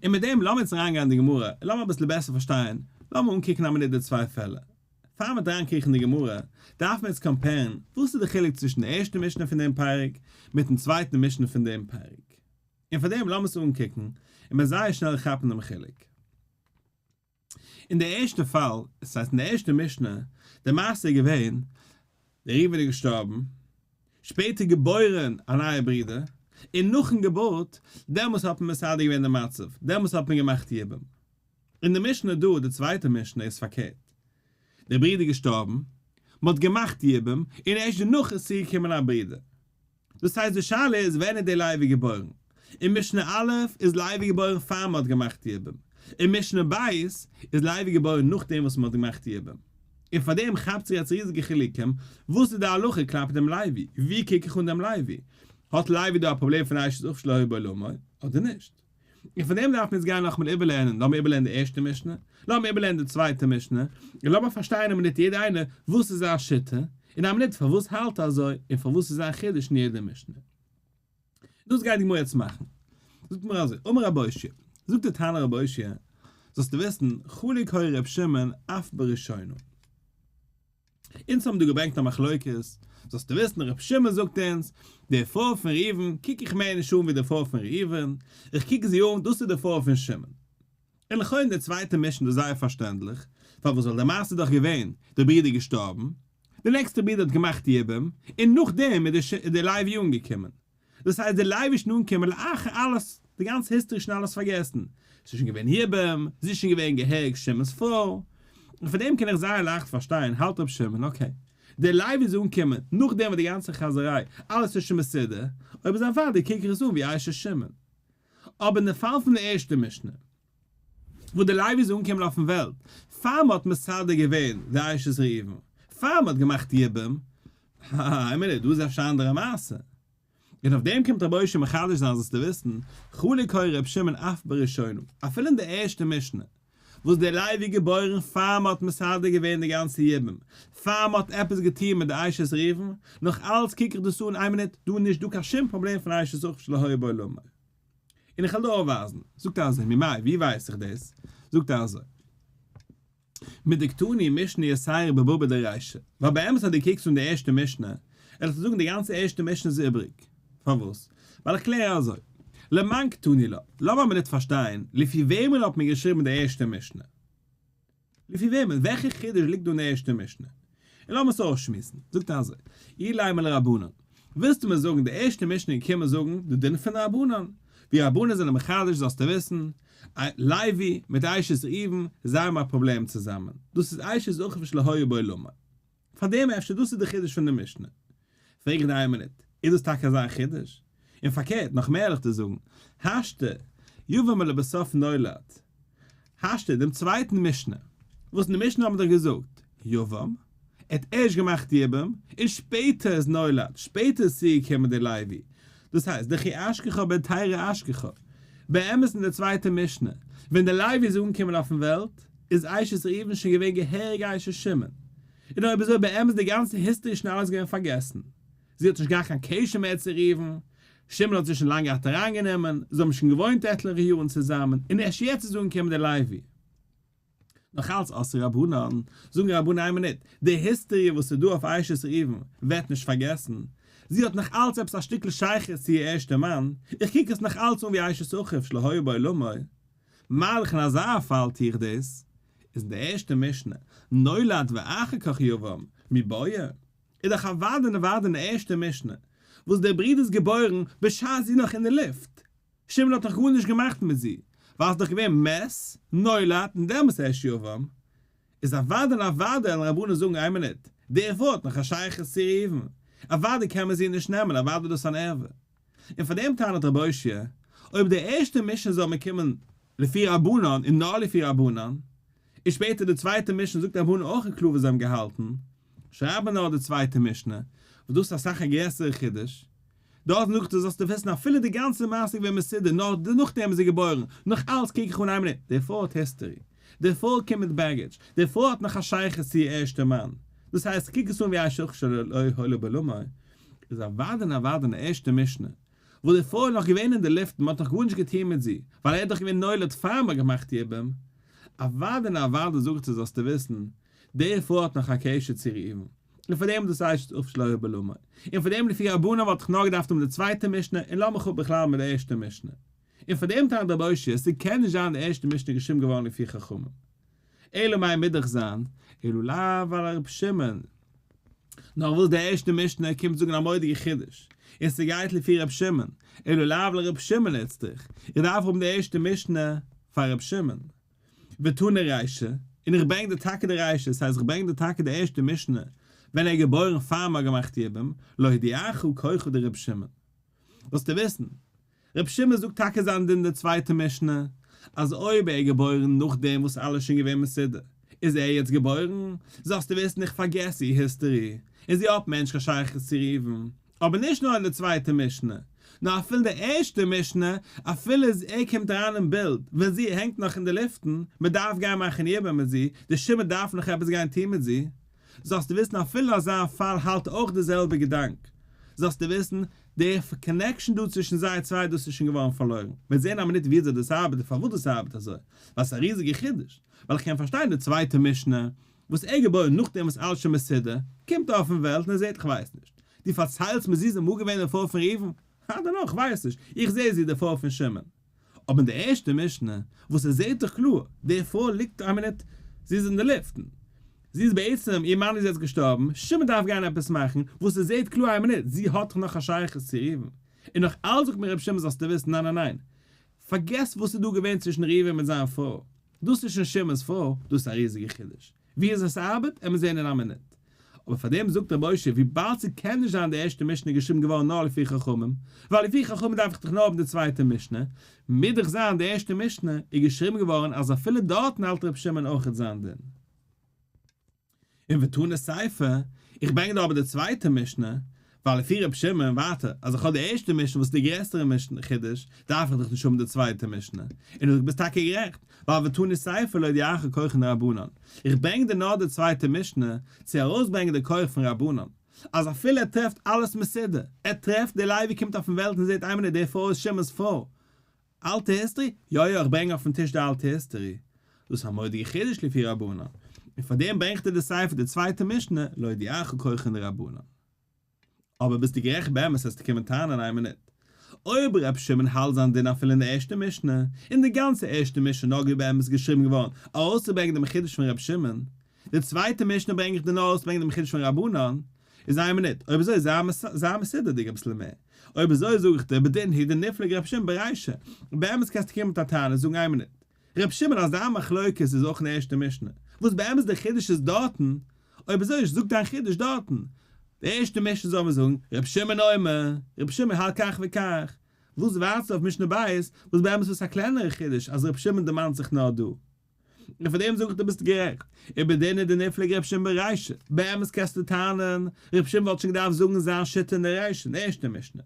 Speaker 1: און מיט דעם לאמיר יעצט אריינגיין אין די גמרא, און לאמיר אביסל בעסער פארשטיין, לאמיר אנקוקן א מינוט די צוויי פעלער. פאר מ'וועט אריינקריכן אין די גמרא, דארף מען יעצט קאמפערן, וואס איז די חילוק צווישן די ערשטע משנה פון דעם פרק, מיטן צווייטן משנה פון דעם פרק. און פאר דעם לאמיר עס אנקוקן און מיר זייער שנעל כאפן דעם חילוק. אין די ערשטע פאל, עס הייסט אין די ערשטע משנה, די מעשה איז געווען, דער ראובן איז געשטארבן, שפעטער געבוירן א נייע ברודער, און נאכן געבורט, דעמאלס האט מען מסדר געווען די מצב, דעמאלס האט מען געמאכט יבום. אין די משנה דא, די צווייטע משנה, איז פארקערט, דער ברודער איז געשטארבן, מען האט געמאכט יבום, און ערשט דערנאך איז צוגעקומען א ברודער. דאס הייסט די שאלה איז ווען איז דער לייבי געבוירן? אין משנה א' איז לייבי געבוירן פאר מען האט געמאכט די יבום, אין משנה ב' איז לייבי געבוירן נאכדעם וואס מען האט געמאכט די יבום, און פאר דעם כאפט זיך יעצט ריזיגע חילוקים, וואס איז די הלכה כלפי דעם לייבי? ווי קוק איך אן דעם לייבי? האט לייבי דא א פראבלעם פון אשת אב שלא היו בו אלא מאי, אדער נישט? און פון דעם דארף מען יעצט גיין נאכאמאל איבערלערנען, לאמיר איבערלערנען די ערשטע משנה, לאמיר איבערלערנען די צווייטע משנה, און לאמיר פארשטיין אין א מינוט יעדער איינער וואס איז זיין שיטה, אין א מינוט פארוואס האלט ער אזוי, און פארוואס איז זיין חידוש אין יעדע משנה. דאס גייט די גמרא יעצט מאכן. זאגט די גמרא אזוי, אמר רבי אושיע, זאגט די תנא רבי אושיע, זאלסטו וויסן, חלק הוי ר' שמעון אף בראשונה. אונז האבן דא געברענגט א מחלוקת, זאלסטו וויסן ר' שמעון זאגט אונז, די פרוי פון ראובן קוק איך מער נישט אן ווי די פרוי פון ראובן, איך קוק זי אן דאס איז די פרוי פון שמעון. און לכאורה די צווייטע מישן דאס זייער פארשטענדליך, פארוואס ווייל די מעשה איז דאך געווען, די ברודער איז געשטארבן, די נעקסטע ברודער האט געמאכט יבום, און נאכדעם איז די לייב יונג געקומען. דאס הייסט דער לייבישן אנקומען לאחר אלעס, די גאנצע היסטערי שוין אלעס פארגעסן, ס'איז שוין געווען יבם, זי איז שוין געווען גע'הרג'ט שמעון'ס פרוי, און פון דעם קען איך זייער לייכט פארשטיין, האלט ר' שמעון, אקעי, דער לייבי'ס אנקומען, נאכדעם וואס די גאנצע חאזעריי, אלעס איז שוין מסודר, אויב איז א ודאי קוק איך עס אן ווי איישע שמעון. אבער אין די פאל פון דער ערשטער משנה. וואו דער לייב איז אנגעקומען אויפן וועלט, פאר מען האט מסדר געווען די אשת ראובן, פאר מען האט געמאכט יבום, האהא, עמער נישט, דא איז אפשר א אנדערע מעשה. און אויף דעם קומט רבי אשר מחדש זיין זאלסטו וויסן, חולק הוי ר' שמעון אף בראשונים, אפילו אין די ערשטע משנה, וואס דער לייב איז געבוירן פאר מען האט מסדר געווען די גאנצע יבום, פאר מען האט עפעס געטון מיט די אשת ראובן, נאך אלץ קוק איך דאס אן, עמער נישט, דא איז נישט דא קיין שום פראבלעם פון אשת ראובן שלא היה בו לומר. און איך וועל דיר אויפווייזן. זאגט ער אזוי, ממאי, ווי ווייס איך דאס? זאגט ער אזוי, מדקדני משני אסיירא בבבא דרישא, ווייל באמת אז דו קוקסט אן די ערשטע משנה, וועל איך דיר זאגן די גאנצע ערשטע משנה איז איבריג. פארוואס? ווייל איך קלער אזוי, למאן קטני לה, לאמיר מיר ניט פארשטיין, לפי וועמען האט מען געשריבן די ערשטע משנה? לפי וועמען? וועלכע חידוש ליגט דא אין די ערשטע משנה? און לאמיר עס אויסשמועסן. זאגט ער אזוי, אי לימא לרבנן, ווילסטו מיר זאגן די ערשטע משנה איז געקומען זאגן די דין פון רבנן, ווי רבנן זענען מחדש זאלסטו וויסן, לייבי מיט אשת ראובן זיי האבן א פראבלעם צוזאמען, דאס איז אשת אחוש לא היה בעולמו. פאר דעם אפשר דאס איז די חידוש פון די משנה? פרעג איך דיר איין מינוט, איז דאס טאקע אזא חידוש? און פארקערט, נאך מער עלעך דיר זאגן, השתא, יבא מ לבסוף נולד, השתא, דעם צווייטן משנה, וואס אין די משנה האט מען דאך געזאגט, יבא מ, ער האט ערשט געמאכט יבא מ, און שפעטער איז נולד, שפעטער איז צוגעקומען דער לוי, דאס הייסט, דכי אשכחא בן תרא אשכחא, באמת אין דער צווייטער משנה, ווען דער לוי איז אנגעקומען אויפן וועלט, איז עישת ראובן שוין געווען געהעריג עישת שמעון? און אויב אזוי באמת די גאנצע היסטארי שוין אלעס געווען פארגעסן? זי האט נישט געהאט קיין קשר מער צו ראובן, שמעון האט זי שוין לאנג געהאט אריינגענומען, זיי האבן שוין געוואוינט עטליכע יארן צוזאמען, און ערשט יעצט איז אנגעקומען די לייבי. נאך אלץ עשה רבנן, זאגן רבנים איין מינוט, די היסטארי וואס איז דא אויף עישת ראובן ווערט נישט פארגעסן, זי האט נאך אלץ עפעס א שטיקל שייכות צו איר ערשטע מאן, איך קוק עס נאך אלץ אן ווי עישת אחיו שלא היה בעולמו, מאריך אין אזא פאל טו איך דאס, איז אין די ערשטע משנה, נולד ואחר כך יבם, מי בויע? איז דאך אוודאי נעווארט אין די ערשטע משנה, וואס דער ברודער איז געבוירן בשעת זי נאך אין די לופט, שמעון האט נאך גארנישט געמאכט מיט זי, ווייל ס'איז דאך געווען מת, נולד, און דעמאלס ערשט יבם, איז אוודאי און אוודאי וועלן רבנן זאגן איין מינוט, די ערווה האט נאך א שייכות צו ראובן, אוודאי קען מען זי נישט נעמען, אוודאי איז דאס אן ערווה. און פאר דעם טענה'ט רבי הושע, אויב די ערשטע משנה זאל מען קומען לפי רבנן און נאר לפי רבנן, און שפעטער די צווייטע משנה זאגט רבנן אויך און קלאר וואס זיי האבן געהאלטן, שרייב מען נאר די צווייטע משנה, וואס דאס איז אסאך א גרעסערע חידוש. דארט נאך דעם זאלסטו וויסן אפילו די גאנצע מעשה איז געווען מסודר נאר נאכדעם איז ער געבוירן, נאך אלץ קוק איך אן איין מינוט, די פרוי האט היסטערי, די פרוי קומט מיט בעגעדזש, די פרוי האט נאך א שייכות צו איר ערשטע מאן, דאס הייסט קוק עס אן ווי א שכשוך שלא היה לו בלומר, איז אוודאי און אוודאי אין די ערשטע משנה, וואו די פרוי איז נאך געווען אין די לופטן, מ'האט נאך גארנישט געטון מיט זי, ווייל ער איז דאך געווען נולד פאר מ'האט געמאכט איר ביים, אוודאי און אוודאי זאגט ער זאלסטו וויסן, די פרוי האט נאך א קשר צו איר איבן, און פאר דעם איז דאס אשת אב שלא היו בלומר, און פאר דעם לפי רבנן וואלט איך נאר געדארפט האבן די צווייטע משנה און לאמיך אפ בכלל מיט די ערשטע משנה, און פאר דעם טענה'ט רבי אשר, ס'קען נישט זיין די ערשטע משנה איז געשריבן געווארן לפי חכמים, אלא מאי מידעך זיין, אילו לאו עלה ר' שמעון, נאר וויל דער ערשטער משנה ער קומט זאגן א מורא'דיגע חידוש, און ס'גייט לפי ר' שמעון, אילו לאו עלה ר' שמעון איצטריך איך דארף האבן די ערשטע משנה פאר ר' שמעון, ותנא ריישא, און איך ברענג דיר טאקע די ריישא, ס'הייסט איך ברענג דיר טאקע די ערשטע משנה ווען ער איז געבוירן פאר מ'האט געמאכט יבום, להודיעך ככחו דר' שמעון. ווילסטו וויסן רבי שמעון זאגט טאקע זיין דין די צווייטע משנה, אז אויב ער איז געבוירן נאכדעם וואס אלעס איז שוין געווען מסודר, איז ער יעצט געבוירן, זאלסטו וויסן איך פארגעס איר היסטארי, און זי האט מער נישט קיין שייכות צו ראובן, אבער נישט נאר אין די צווייטע משנה, נאר אפילו אין די ערשטע משנה, אפילו אז ער קומט אריין אין בילד ווען זי הענגט נאך אין די לופטן, מען דארף גיין מאכן יבום מיט זי, די שמד דארף נאך עפעס גיין טון מיט זי, זאלסטו וויסן אפילו אזא פאל האלט אויך די זעלבע געדאנק, זאלסטו וויסן, די קאנעקשאן דא צווישן זיי צוויי דאס איז שוין געווארן פארלוירן. מיר זעהן א מינוט וויאזוי דאס ארבעט און פארוואס דאס ארבעט אזוי. ווייל ס'איז א ריזיגע חידוש. ווייל איך קען פארשטיין די צווייטע משנה וואס ער געבוירן נאכדעם וואס אלעס שוין מסודר, קומט ער אויפן וועלט און ער זעהט איך ווייס נישט. דו פארציילסט מיר זי איז אמאל געווען די פרוי פון ראובן? הא דערנאך ווייס איך. איך זעה זי איז די פרוי פון שמעון. אבער אין די ערשטע משנה וואס עס זעהט זיך קלאר די פרוי ליגט איין מינוט זי איז אין די לופטן זי איז בעצם איר מאן איז יעצט געשטארבן שמעון דארף גיין עפעס מאכן וואס עס זעהט קלאר איין מינוט זי האט דאך נאך א שייכות צו ראובן און נאך אלץ זאגט מיר רבי שמעון זאלסטו וויסן ניין ניין ניין פארגעס וואס איז דא געווען צווישן ראובן מיט זיין פרוי דאס איז שוין שמעון'ס פרוי דאס איז א ריזיגע חידוש ווי אזוי עס ארבעט עמיר זעהן אין א מינוט. אבער פאר דעם זאגט ר' משה וויבאלד ס'קען נישט זיין די ערשטע משנה איז געשריבן געווארן נאר לפי חכמים, ווייל לפי חכמים דארף איך דאך נאר האבן די צווייטע משנה, מוז דאך זיין די ערשטע משנה איז געשריבן געווארן אז אפילו דארטן האלט ר' שמעון אויכעט זיין דין. און ותנא סייפא, איך ברענג דא אבער די צווייטע משנה, ווייל לפי ר' שמעון און ווייטער אז איך האב די ערשטע משנה וואס איז די גרעסערע משנה חידוש דארף איך דאך נישט האבן די צווייטע משנה און דו ביסט טאקע גערעכט ווייל ותני סייפא לא ידיעך כוחן דרבנן איך ברענג דיר נאר די צווייטע משנה צו ארויסברענגען די כח פון רבנן אז אפילו ער טרעפט אלעס מסודר ער טרעפט די לייב ווי קומט אויפן וועלט און זעט איין מינוט די פרוי איז שמעון'ס פרוי אלטע היסטערי? יא יא איך ברענג אויפן טיש די אלטע היסטערי, דאס א מודיע חידוש לפי רבנן, און פארדעם ברענגט ער די ספר די צווייטע משנה להודיעך כהכא דרבנן. אבער ביסטו גערעכט באמת העסטו קומען טענה'ן איין מינוט אויב ר' שמעון האלט זיין דין אפילו אין די ערשטע משנה, און די גאנצע ערשטע משנה איז נאר געווען באמת געשריבן געווארן ארויסצוברענגען דעם חידוש פון ר' שמעון, די צווייטע משנה ברענג איך דיר נאר ארויסצוברענגען דעם חידוש פון רבנן, איז איין מינוט, אויב אזוי זיי זיי מסודר'דיג אביסל מער. אויב אזוי זאג איך דיר בדין היד נפלג ר' שמעון ברישא, באמת קענסטו קומען מיט א טענה זאגן איין מינוט. ר' שמעון אז דיין מחלוקת איז אויך אין ערשטע משנה, וואס באמת דער חידוש איז דארטן, אויב אזוי זאג דיין חידוש דארטן. די ערשטע משנה זאל מען זאגן ר' שמעון אומר, ר' שמעון האלט כך וכך. וואס ווארטסטו אויף משנה ב', וואס באמת וואס א קלענערע חידוש אז ר' שמעון דערמאנט זיך נאר דא. און פאר דעם זאג איך דו ביסט גערעכט. איבער די נדה נפלג רבי שמעון בריש א, באמת קענסטו טענה'ן, רבי שמעון וואלט שוין געדארפט זאגן זיין שיטה אין די ראשון, ערשטע משנה.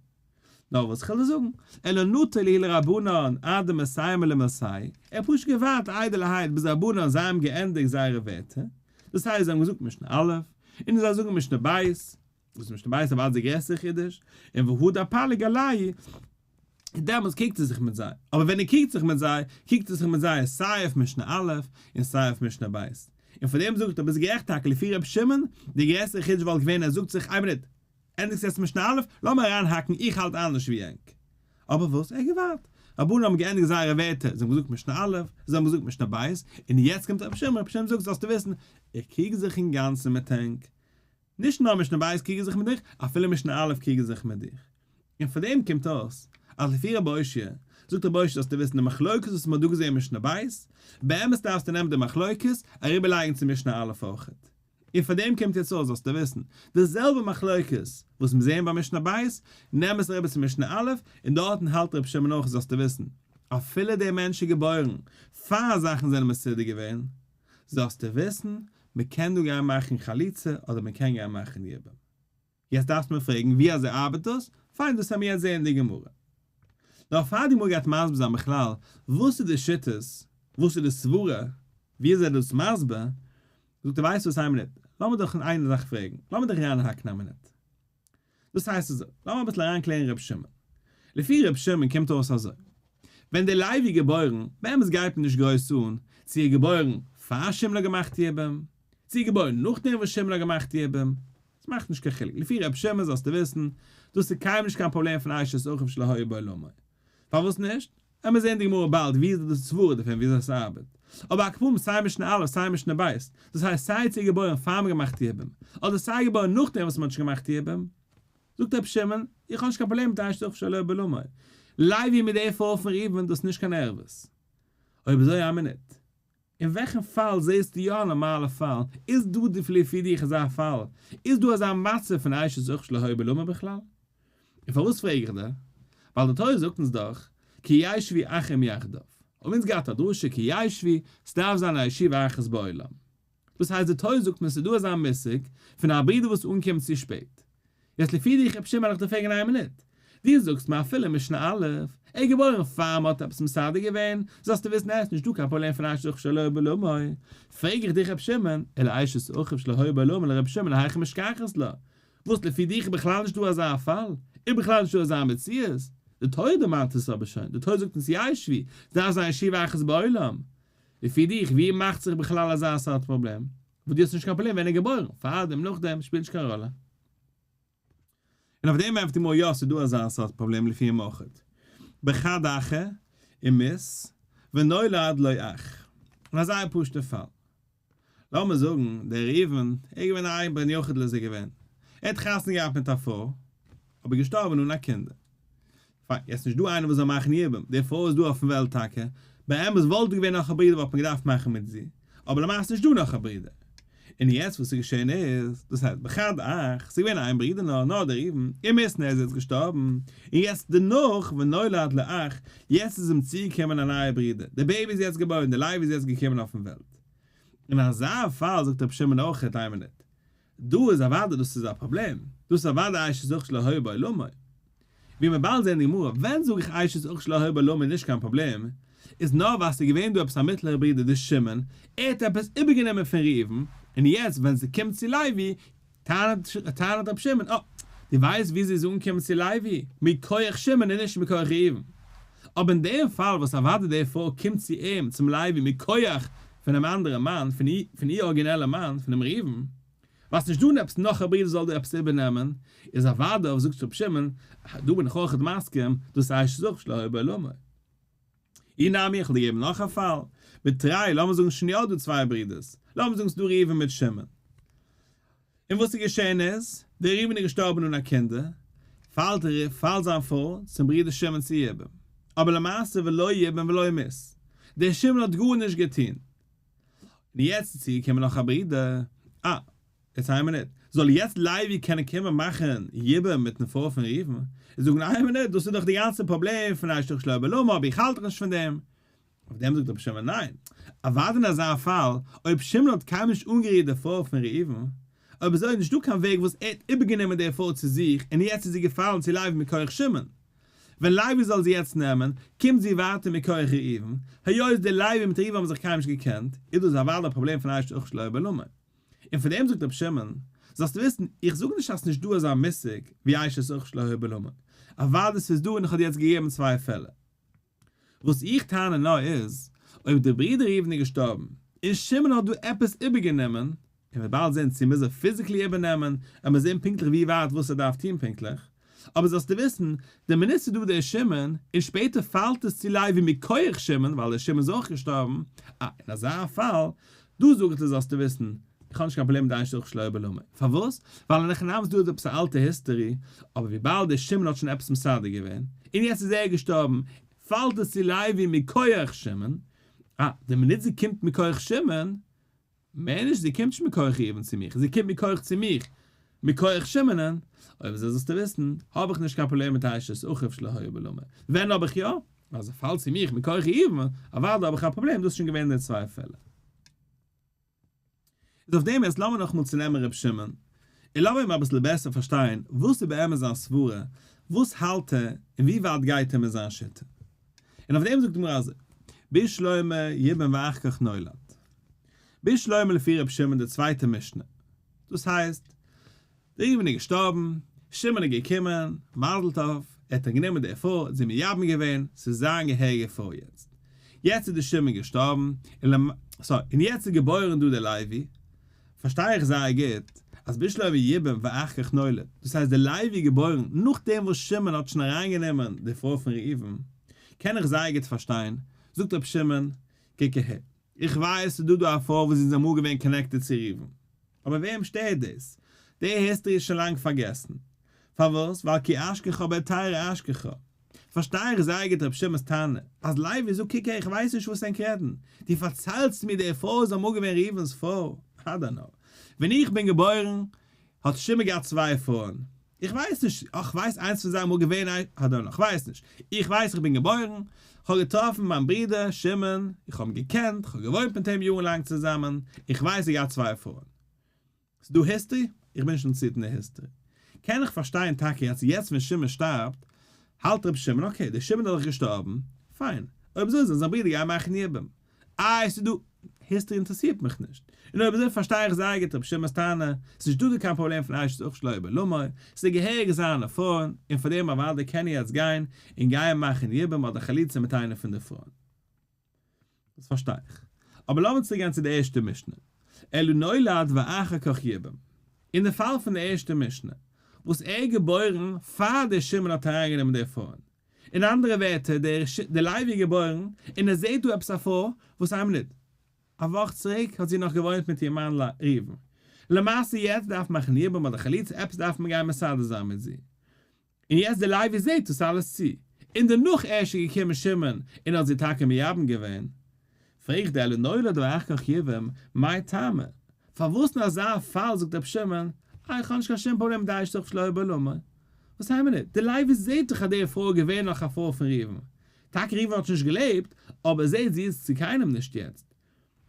Speaker 1: נאר וואס כ'על דיר זאגן, אלא נטה ליהי לרבנן עד דמסיים ולמסי, ער האט פשוט געווארט איידעלערהייט ביז רבנן זיי האבן געענדיגט זייערע ווערטער, דאס הייסט זיי האבן געזאגט משנה א', און ער זאל זאגן משנה ב', וואס משנה בית אבד איז די גרעסטע חידוש, און והוד הפלג עלי' איז דעמאלטס קוקט ער זיך מיט זיי, אבער ווען ער קוקט זיך מיט זיי, קוקט ער זיך מיט זיי סיי אויף משנה א' און סיי אויף משנה ב', און פאר דעם זאגט ער ביסט גערעכט טאקע לפי רבי שמעון, די גרעסטע חידוש וואלט געווען ער זאגט זיך איין מינוט, ענדיגסט יעצט משנה א', לאז מיר אריינהאקן איך האלט אנדערש ווי ענק. אבער וואס, ער האט געווארט, רבנן האבן געענדיגט זייערע ווערטער, זיי האבן געזאגט משנה א', זיי האבן געזאגט משנה ב', און יעצט קומט רבי שמעון, רבי שמעון זאגט זאלסטו וויסן, איך קוק זיך אינגאנצן מיט ענק, נישט נאר משנה ב' קריגן זיך מיט דיך, אפילו משנה א' קריגן זיך מיט דיך. און פון דעם קומט אויס, אז לפי רבי הושע, זאגט רבי הושע זאלסטו וויסן די מחלוקת וואס מען האט דא געזעהן אין משנה ב', באמת דארפסטו נעמען די מחלוקת, אריבער לייגן צו משנה א' אויך. און פון דעם קומט יעצט אויס זאלסטו וויסן, די זעלבע מחלוקת וואס מיר זעהן ביי משנה ב', נעם עס אריבער צו משנה א', און דארטן האלט רבי שמעון אויך זאלסטו וויסן, אפילו דער מענטש איז געבוירן פאר זאכן זענען מסודר געווען, זאלסטו וויסן, מען קען דא גיין מאכן חליצה אדער מען קען גיין מאכן יבום. יעצט דארפסטו מיר פרעגן ווי אזוי ארבעט דאס? פיין דאס העמיר יעצט זעהן אין די גמרא. נאר פאר די גמרא גייט מסביר זיין בכלל וואס איז די שיטות, וואס איז די סברה, ווי אזוי איז דאס מסביר, זאגט ער ווייסט וואס איין מינוט, לאמיר דאך אין איין זאך פרעגן, לאמיר דאך רעדן אין הקנאה מינוט. דאס הייסט אזוי, לאמיר אביסל אריין קלערן ר' שמעון. לפי ר' שמעון קומט אויס אזוי, ווען די לייב איז געבוירן, באמת גייט מען נישט גרויס אן צו ער איז געבוירן פאר שמעון האט געמאכט יבום, צו ער איז געבוירן נאכדעם וואס שמעון האט געמאכט יבום, עס מאכט נישט קיין חילוק, לפי ר' שמעון זאלסטו וויסן, דאס איז קיינמאל נישט קיין פראבלעם פון אשת אחיו שלא היה בעולמו, פארוואס נישט? עמער זעהן די גמרא באלד ווי איז די דאס סברה דערפון ווי אזוי עס ארבעט. אבער הק' פורים סיי משנה א' סיי משנה ב', דאס הייסט סיי צו געבוירן פאר מען געמאכט די יבום, אדער סיי געבוירן נאכדעם וואס מען האט שוין געמאכט די יבום. זאגט רבי שמעון, איך האב נישט קיין פראבלעם מיט איין שטח שלא בעלמא. לייבי מיט די פרוי פון ראובן דאס איז נישט קיין ערבות. אויב אזוי א מינוט. אין וועלכן פאל זעסטו יא א נארמאלע פאל? איז דא די לפי דיך אזא פאל? איז דא אזא מצב פון אשה זכר שלא היו בלמה בכלל? און פארוואס פרעג איך דיר? ווייל די תורה זאגט אונז דאך כי ישבי אחים יחדיו. האבן אונז געהאט א דרשה כי ישבי, ס'דארף זיין א ישיבה אחת בעולם. דאס הייסט די תורה זאגט מיר ס'איז דא אזא מושג פון א ברודער וואס אנקומט צו שפעט. יעצט לפי דיך אפשר מעג איך דיר פרעגן איין מינוט, דו זאגסט מיר אפילו משנה א', ער איז געבוירן פאר מען האט עפעס מסדר געווען, זאלסטו וויסן עס איז נישטא קיין פראבלעם פון אשת אחיו שלא היה בה לאמי, פרעג איך דיך ר' שמעון, אלא אשת אחיו שלא היה בה לאמי לר' שמעון היכי משכחת לה, וואס לפי דיך איז בכלל נישטא אזא פאל, איז בכלל נישטא אזא מציאות, די תורה דערמאנט עס אבער שוין, די תורה זאגט אונז ישבי, זיי זיין ישיבה אחת בעולם, לפי דיך ווי מאכט זיך בכלל אזא סארט פראבלעם? וואס דו האסט נישט קיין פראבלעם ווען ער איז געבוירן, פארדעם נאכדעם שפילט נישט קיין ראלע. און אויף דעם ענטפערט מוה יא ס'איז דא אזא סארט פראבלעם לפי המאוחד בכד אחר און מות ונולד לו אח און א זייער פשוט'ע פאל לאמיר זאגן דער ראובן ער איז געווען א בן יחיד לזה געווען ער האט חתונה געהאט מיט א פרוי אבער געשטארבען אן א קינדער פאק, יעצט נישט דא איינער וואס זאל מאכן יבום, די פרוי איז דא אויפן וועלט טאקע, באמת וואלט דא געווען נאך א ברודער וואלט מען געדארפט מאכן מיט זי, אבער למעשה איז נישט דא נאך א ברודער, און יעצט וואס איז געשען איז, דאס הייסט בחד אח, ס'איז געווען איין ברודער נאר, נאר דער איבן, און מיסטן ער איז יעצט געשטארבן, און יעצט דערנאך ונולד לה אח, יעצט איז אים צוגעקומען א נייער ברודער, די בעיבי איז יעצט געבוירן, די לייב איז יעצט געקומען אויפן וועלט. אין אזא פאל זאגט רבי שמעון אויך, איין מינוט, דא איז אוודאי דאס איז א פראבלעם, דאס איז אוודאי אייש איז אויך שלא היה בעולמו. ווי מיר באלד זעהן אין די גמרא, ווען זאג איך אייש איז אויך שלא היה בעולמו איז נישט קיין פראבלעם, איז נאר ווייל עס איז געווען דא עפעס א מיטלעכע ברודער די שמעון, ער האט עפעס איבערגענומען פון ראובן, און יעצט ווען ס'קומט צו לוי, טענה'ט רבי שמעון, אה, דו ווייסט ווי זי איז אנגעקומען צו לוי, מכח שמעון און נישט מכח ראובן. אבער אין דעם פאל וואס אוודאי דערפאר קומט זי אים, צום לוי, מכח. פונעם אנדערן מאן, פון איר ארגינעלע מאן, פונעם ראובן, ווייסט נישט דאן עפעס נאך א ברודער זאל דיר עפעס איבערנעמען, איז אוודאי אויף זאגט רבי שמעון, דא בין איך אויך מסכים, דאס הייסט ש זאגט שלא הי' בעולמי. אי נמי איך וועל דיר געבן נאך א פאל, בתראי, לאמיר זאגן שוין יא דא צוויי ברודערס, לאמיר זאגן ס'דא ראובן מיט שמעון. און וואס איז געשען איז, דער ראובן איז געשטארבן אן א קינדער, פאלט ער אויף, פאלט זיין פרוי, צום ברודער שמעון צו יבם, אבער למעשה ולא יבם ולא ימות, דער שמעון האט גארנישט געטון, און יעצט איז צוגעקומען נאך א ברודער, אה, איטס איין מינוט, זאל יעצט לייבי קענען קומען מאכן יבם מיטן פרוי פון ראובן, און זאגן איין מינוט, דאס איז דאך די גאנצע פראבלעם פון אשת חיל שלא בלא מאור, ווי איך האלט דאך נישט פון דעם, אויף דעם זאגט רבי שמעון ניין, אוודאי אין אזא פאל, אויב שמעון האט קיינמאל נישט אנגערירט די פרוי פון ראובן, אויב עס איז נישטא קיין וועג וואס ער האט איבערגענומען די פרוי צו זיך און יעצט איז זי געפאלן צו לייבי מכח שמעון, ווען לייבי זאל זי יעצט נעמען, קומט זי ווייטער מכח ראובן, היות די לייבי מיט ראובן האבן זיך קיינמאל נישט געקענט, איז דאס אוודאי א פראבלעם פון אשת אח שלא בא למה. און פון דעם זאגט רבי שמעון, זאלסט וויסן, איך זאג נישט אז נישטא אזא מושג ווי אשת אח שלא בא למה, אוודאי ס'איז דא און איך האב דיר יעצט געגעבן צוויי פעלער, וואס איך טענה נאר איז, אויב דער ברודער ראובן איז געשטארבן, און שמעון האט דא עפעס איבערגענומען, און מ'וועט באלד זען צו מ'איז ער פיזיקלי איבערנעמען, עמער זען פונקטליך ווי ווייט וואס ער דארף טון פונקטליך, אבער זאלסטו וויסן, דער מנוסה דא דער שמעון, און שפעטער פאלט עס צו לייבי מכח שמעון, ווייל דער שמעון איז אויך געשטארבן, אה, אין אזא פאל, דא זאג איך דיר זאלסטו וויסן, איך האב נישט קיין פראבלעם מיט דיין שדוך שלא עבר למה, פארוואס? ווייל אין הכנעה וואס דא איז עפעס א אלטע היסטערי, אבער וויבאלד דער שמעון האט שוין עפעס מסדר געווען, און יעצט איז ער געשטארבן, פאלט עס צו לייבי מכח שמעון, אה, די מינוט זי קומט מכח שמעון, מער נישט, זי קומט נישט מכח ראובן צו מיך, זי קומט מכח צו מיך, מכח שמעונ'ן, אויב איז אזוי זאלסטו וויסן, האב איך נישט קיין פראבלעם מיט דיין שדוך שלא עבר למה, ווען האב איך יא? אז ער פאלט צו מיך מכח איוב, אוודאי האב איך א פראבלעם, דאס איז שוין געווען אין די צוויי פעלער. איז אויף דעם, יעצט לאמיר נאכאמאל צונעמען ר' שמעון, און לאמיר אים אביסל בעסער פארשטיין, וואס איז באמת זיין סברה, וואס האלט ער, און ווי ווייט גייט ער מיט זיין שיטה. און אויף דעם זאגט די גמרא אזוי, בשלמה יבן ואח כ נולד. בשלמה לפי ר' שמעון די צווייטע משנה, דאס הייסט, ראובן איז געשטארבן, שמעון איז געקומען, מזל טוב, ער האט אנגענומען די עפר, זי מייבם געווען, ס'איז זיין געהעריגע פרוי יעצט. יעצט איז דער שמעון געשטארבן, און למ ס און יעצט איז געבוירן דא דער לוי. פארשטיי איך זייער גוט, אז בשלב ייבום ואחר כך נולד, דאס הייסט דער לוי איז געבוירן נאכדעם וואס שמעון האט שוין אריינגענומען די פרוי פון ראובן, קען איך זייער גוט פארשטיין, זאגט רבי שמעון, קעקעהע. איך ווייס ס'איז דא דא א פאר וואס זענען אמאל געווען קאנעקטעד צו ריבן, אבער וועם שטערט דאס? די היסטערי איז שוין לאנג פארגעסן. פארוואס? ווייל כי אשכחו בעטרה אשכחו. פארשטיי איך זייער גוט רב שמעון'ס טענה, אז לייבי זאגט קוק הער איך ווייס נישט וואס ענק רעדן, דו פארציילסט מיר די פאר איז אמאל געווען ריבן'ס פאר? אדער נאר ווען איך בין געבוירן האט שמעון געהאט צוויי פארן? איך ווייס נישט, איך ווייס איינס פון זיי אמאל געווען א האדאנא, איך ווייס נישט, איך ווייס איך בין געבוירן, איך האב געטראפן מיין ברודער שמעון, איך האב אים געקענט, איך האב געוואוינט מיט אים יארן לאנג צוזאמען, איך ווייס ער האט געהאט צוויי פרויען. ס'איז דא היסטערי? איך בין נישט אינטערעסירט אין די היסטערי. קען איך פארשטיין טאקע אז יעצט ווען שמעון שטארבט, האלט ר' שמעון אקעי, דער שמעון איז דאך געשטארבן, פיין, אויב אזוי זאל זיין ברודער גיין מאכן יבום. איי עס איז דא. היסטערי אינטערעסירט מיך נישט. און אויב אזוי פארשטיי איך זייער גוט רבי שמעון'ס טענה, עס איז נישט דא דא קיין פראבלעם פון אייש איז אויך שלא יבא למה, עס איז געהעריג זיין א פרוי, און פאר דעם אוודאי קען ער יעצט גיין און גייען מאכן יבום אדער חליצה מיט איינע פון די פרויען. דאס פארשטיי איך. אבער לאמיר צוריק גיין צו די ערשטע משנה. אלא נולד ואחר כך יבום. אין די פאל פון די ערשטע משנה, וואס ער איז געבוירן פאר דער שמעון האט אריינגענומען די פרויען, אין אנדערע ווערטער דער דער לייב איז געבוירן און עס זעט דא עפעס א פרוי וואס איין מינוט א וואך צוריק האט זי נאך געוואוינט מיט איר מאן ראובן למעשה יעצט דארף מען מאכן יבום אדער חליצה עפעס דארף מען גיין מסדר זיין מיט זי און יעצט דער לייבי זעט דאס אלעס צו און דערנאך ערשט איז געקומען שמעון און האט זי טאקע מייבם געווען פרעגט די עלינורא דער אח כ יבם, מאי טעמא, פארוואס אין אזא פאל זאגט רבי שמעון, אה, איך האב נישט קיין שום פראבלעם מיט די אשת רעך פ שלוה ב ל מ, וואס היינט מען ניט, די לייביס זעט דאך אז די פרוי איז געווען נאך א פרוי פון ראובן, טאקע ראובן האט שוין נישט געלעבט, אבער זעט זי איז צו קיינעם נישט יעצט.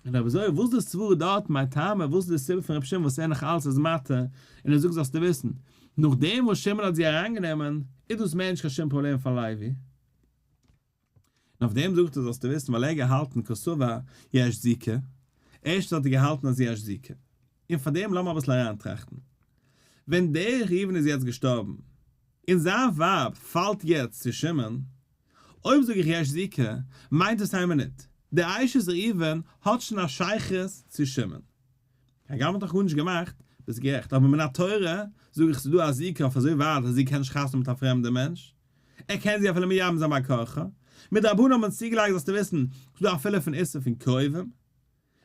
Speaker 1: און אויב אזוי, וואס איז די סברא דארט, מאי טעמא, וואס איז די סיבה פון רבי שמעון וואס ער נאך אלץ איז מתיר, און ער זאגט זאלסטו וויסן, נאכדעם וואס שמעון האט זי אריינגענומען, איז דאס מער נישט קיין שום פראבלעם פאר לייבי? און אויף דעם זאגט ער זאלסטו וויסן ווייל ער האט געהאלטן קאסובא יש זיקה, ערשטנס האט ער געהאלטן אז יש זיקה, און פאר דעם לאמיר אביסל אריינטראכטן, ווען דער ראובן איז יעצט געשטארבן, און זיין ווייב פאלט יעצט צו שמעון, אויב זאג איך יש זיקה, מיינט דאס איין מינוט, דער אשת ראובן האט שוין א שייכות צו שמעון. הגם מ'האט נאך גארנישט געמאכט, ביסט גערעכט, אבער מן התורה זאג איך ס'איז דא א זיקה אויף אזוי ווייט אז זי קען נישט חתונה מיט א פרעמדע מענטש, ער קען זי אפילו מי יעמוד זיין מקוחה, מיר די רבנים האבן צוגעלייגט זאלסטו וויסן, ס'דא אפילו פון איסור פון קרובים,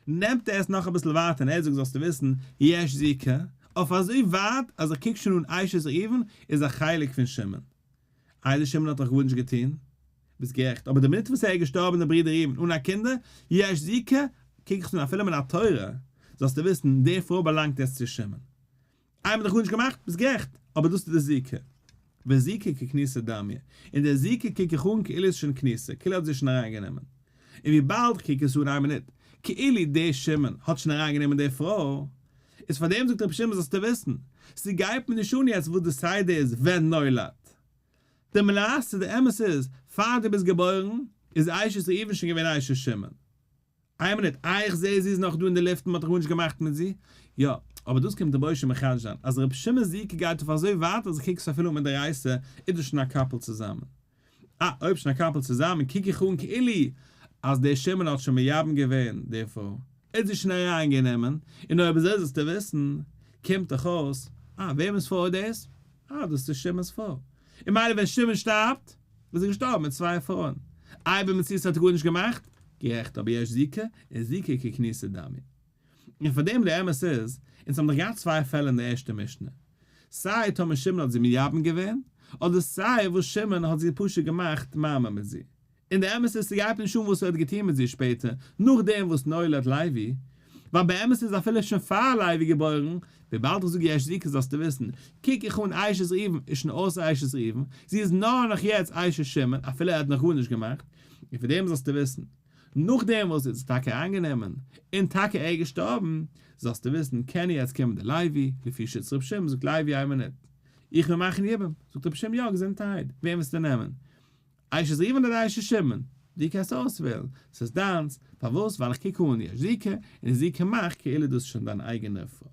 Speaker 1: נעמט ער עס נאך אביסל ווייטער און ער זאגט זאלסטו וויסן, יש זי כ, אויף אזוי ווייט אז איך קוק שוין אן אשת ראובן איז א חלק פון שמעון. איידער שמעון האט דאך גארנישט געטון. ביסט גערעכט, אבער די מינוט וואס ער איז געשטארבן דער ברודער ראובן אן א קינדער, יש זי כ, קוק איך שוין אפילו מן התורה, זאלסטו וויסן, די פרוי באלאנגט יעצט צו שמעון. איי מ'האט דיך גארנישט געמאכט? ביסט גערעכט, אבער דאס איז די זיקה. וזיקה ככניסה דמיה. און די זיקה קוק איך אן כאילו איז שוין כניסה, כאילו האט זי שוין אריינגענומען. און וויבאלד איך קוק עס אן איין מינוט, כאילו די שמעון האט שוין אריינגענומען די פרוי, איז פארדעם זאגט רבי שמעון זאלסטו וויסן, ס'גייט מיר נישט אן יעצט וואס די סדר איז ווען נולד. די מלאסטע, די אמת איז, פאר דו ביסט געבוירן, איז אשת ראובן שוין געווען אשת שמעון. איין מינוט, אה איך זעה זי איז נאך דא אין די לופט מען האט נאך גארנישט געמאכט מיט זי, יא, אבער דאס קומט רבוש ע מחדש זיין, אז רבי שמעון זי ע גייט אויף אזוי ווייט אז איך קוק עס אפילו מיט די רייסע איז דאס שוין א קאפל צוזאמען, אה אויב שוין א קאפל צוזאמען קוק איך אן כאילו אז דער שמעון האט שוין מייבם געווען די פרוי, ער האט זי שוין אריין גענומען, און אויב אזוי זאלסטו וויסן, קומט דאך אויס, אה וועמענס פרוי איז דאס? אה, דאס איז שמעון'ס פרוי. און מילא ווען שמעון שטארבט, איז ער געשטארבן מיט צוויי פרויען. איי ביי מציאות האט ער גארנישט געמאכט? גערעכט, אבער יש זיקה, און זיקה ככניסת דמי. און פאר דעם, דער אמת איז, אונז האבן דאך געהאט צוויי פעלער אין די ערשטע משנה. סיי טאמער שמעון האט זי מייבם געווען, אדער סיי וואס שמעון האט זי פשוט געמאכט מיימם מיט זי. און דער אמת איז ס'גייט נישט אן וואס ער האט געטון מיט זי שפעטער נאכדעם וואס נולד לייבי, ווייל באמת איז אפילו שוין פאר לייבי געבוירן, וויבאלד איך זאג יש זיקה זאלסטו וויסן, קוק איך אן אשת ראובן איז שוין אויסער אשת ראובן, זי איז נאר נאך יעצט אשת שמעון אפילו ער האט נאך גארנישט געמאכט, און פון דעם זאלסטו וויסן, נאכדעם וואס זי האט זיך טאקע איינגענומען, און טאקע ער איז געשטארבן, זאלסטו וויסן, קען יעצט קומען דער לייבי, לפי שיטת רבי שמעון, זאגט לייבי איין מינוט, איך וועל מאכן יבום, זאגט רבי שמעון יא געזונטערהייט, וועם וועסטו נעמען? איי שיז איווען א ריישע שמן, דו קענסט אויסוועלן, ס'איז דיינס, פארוואס? ווייל איך קוק אן יש זיקה, און זיקה מאכט כאילו דאס איז שוין דיין אייגענע פרוי.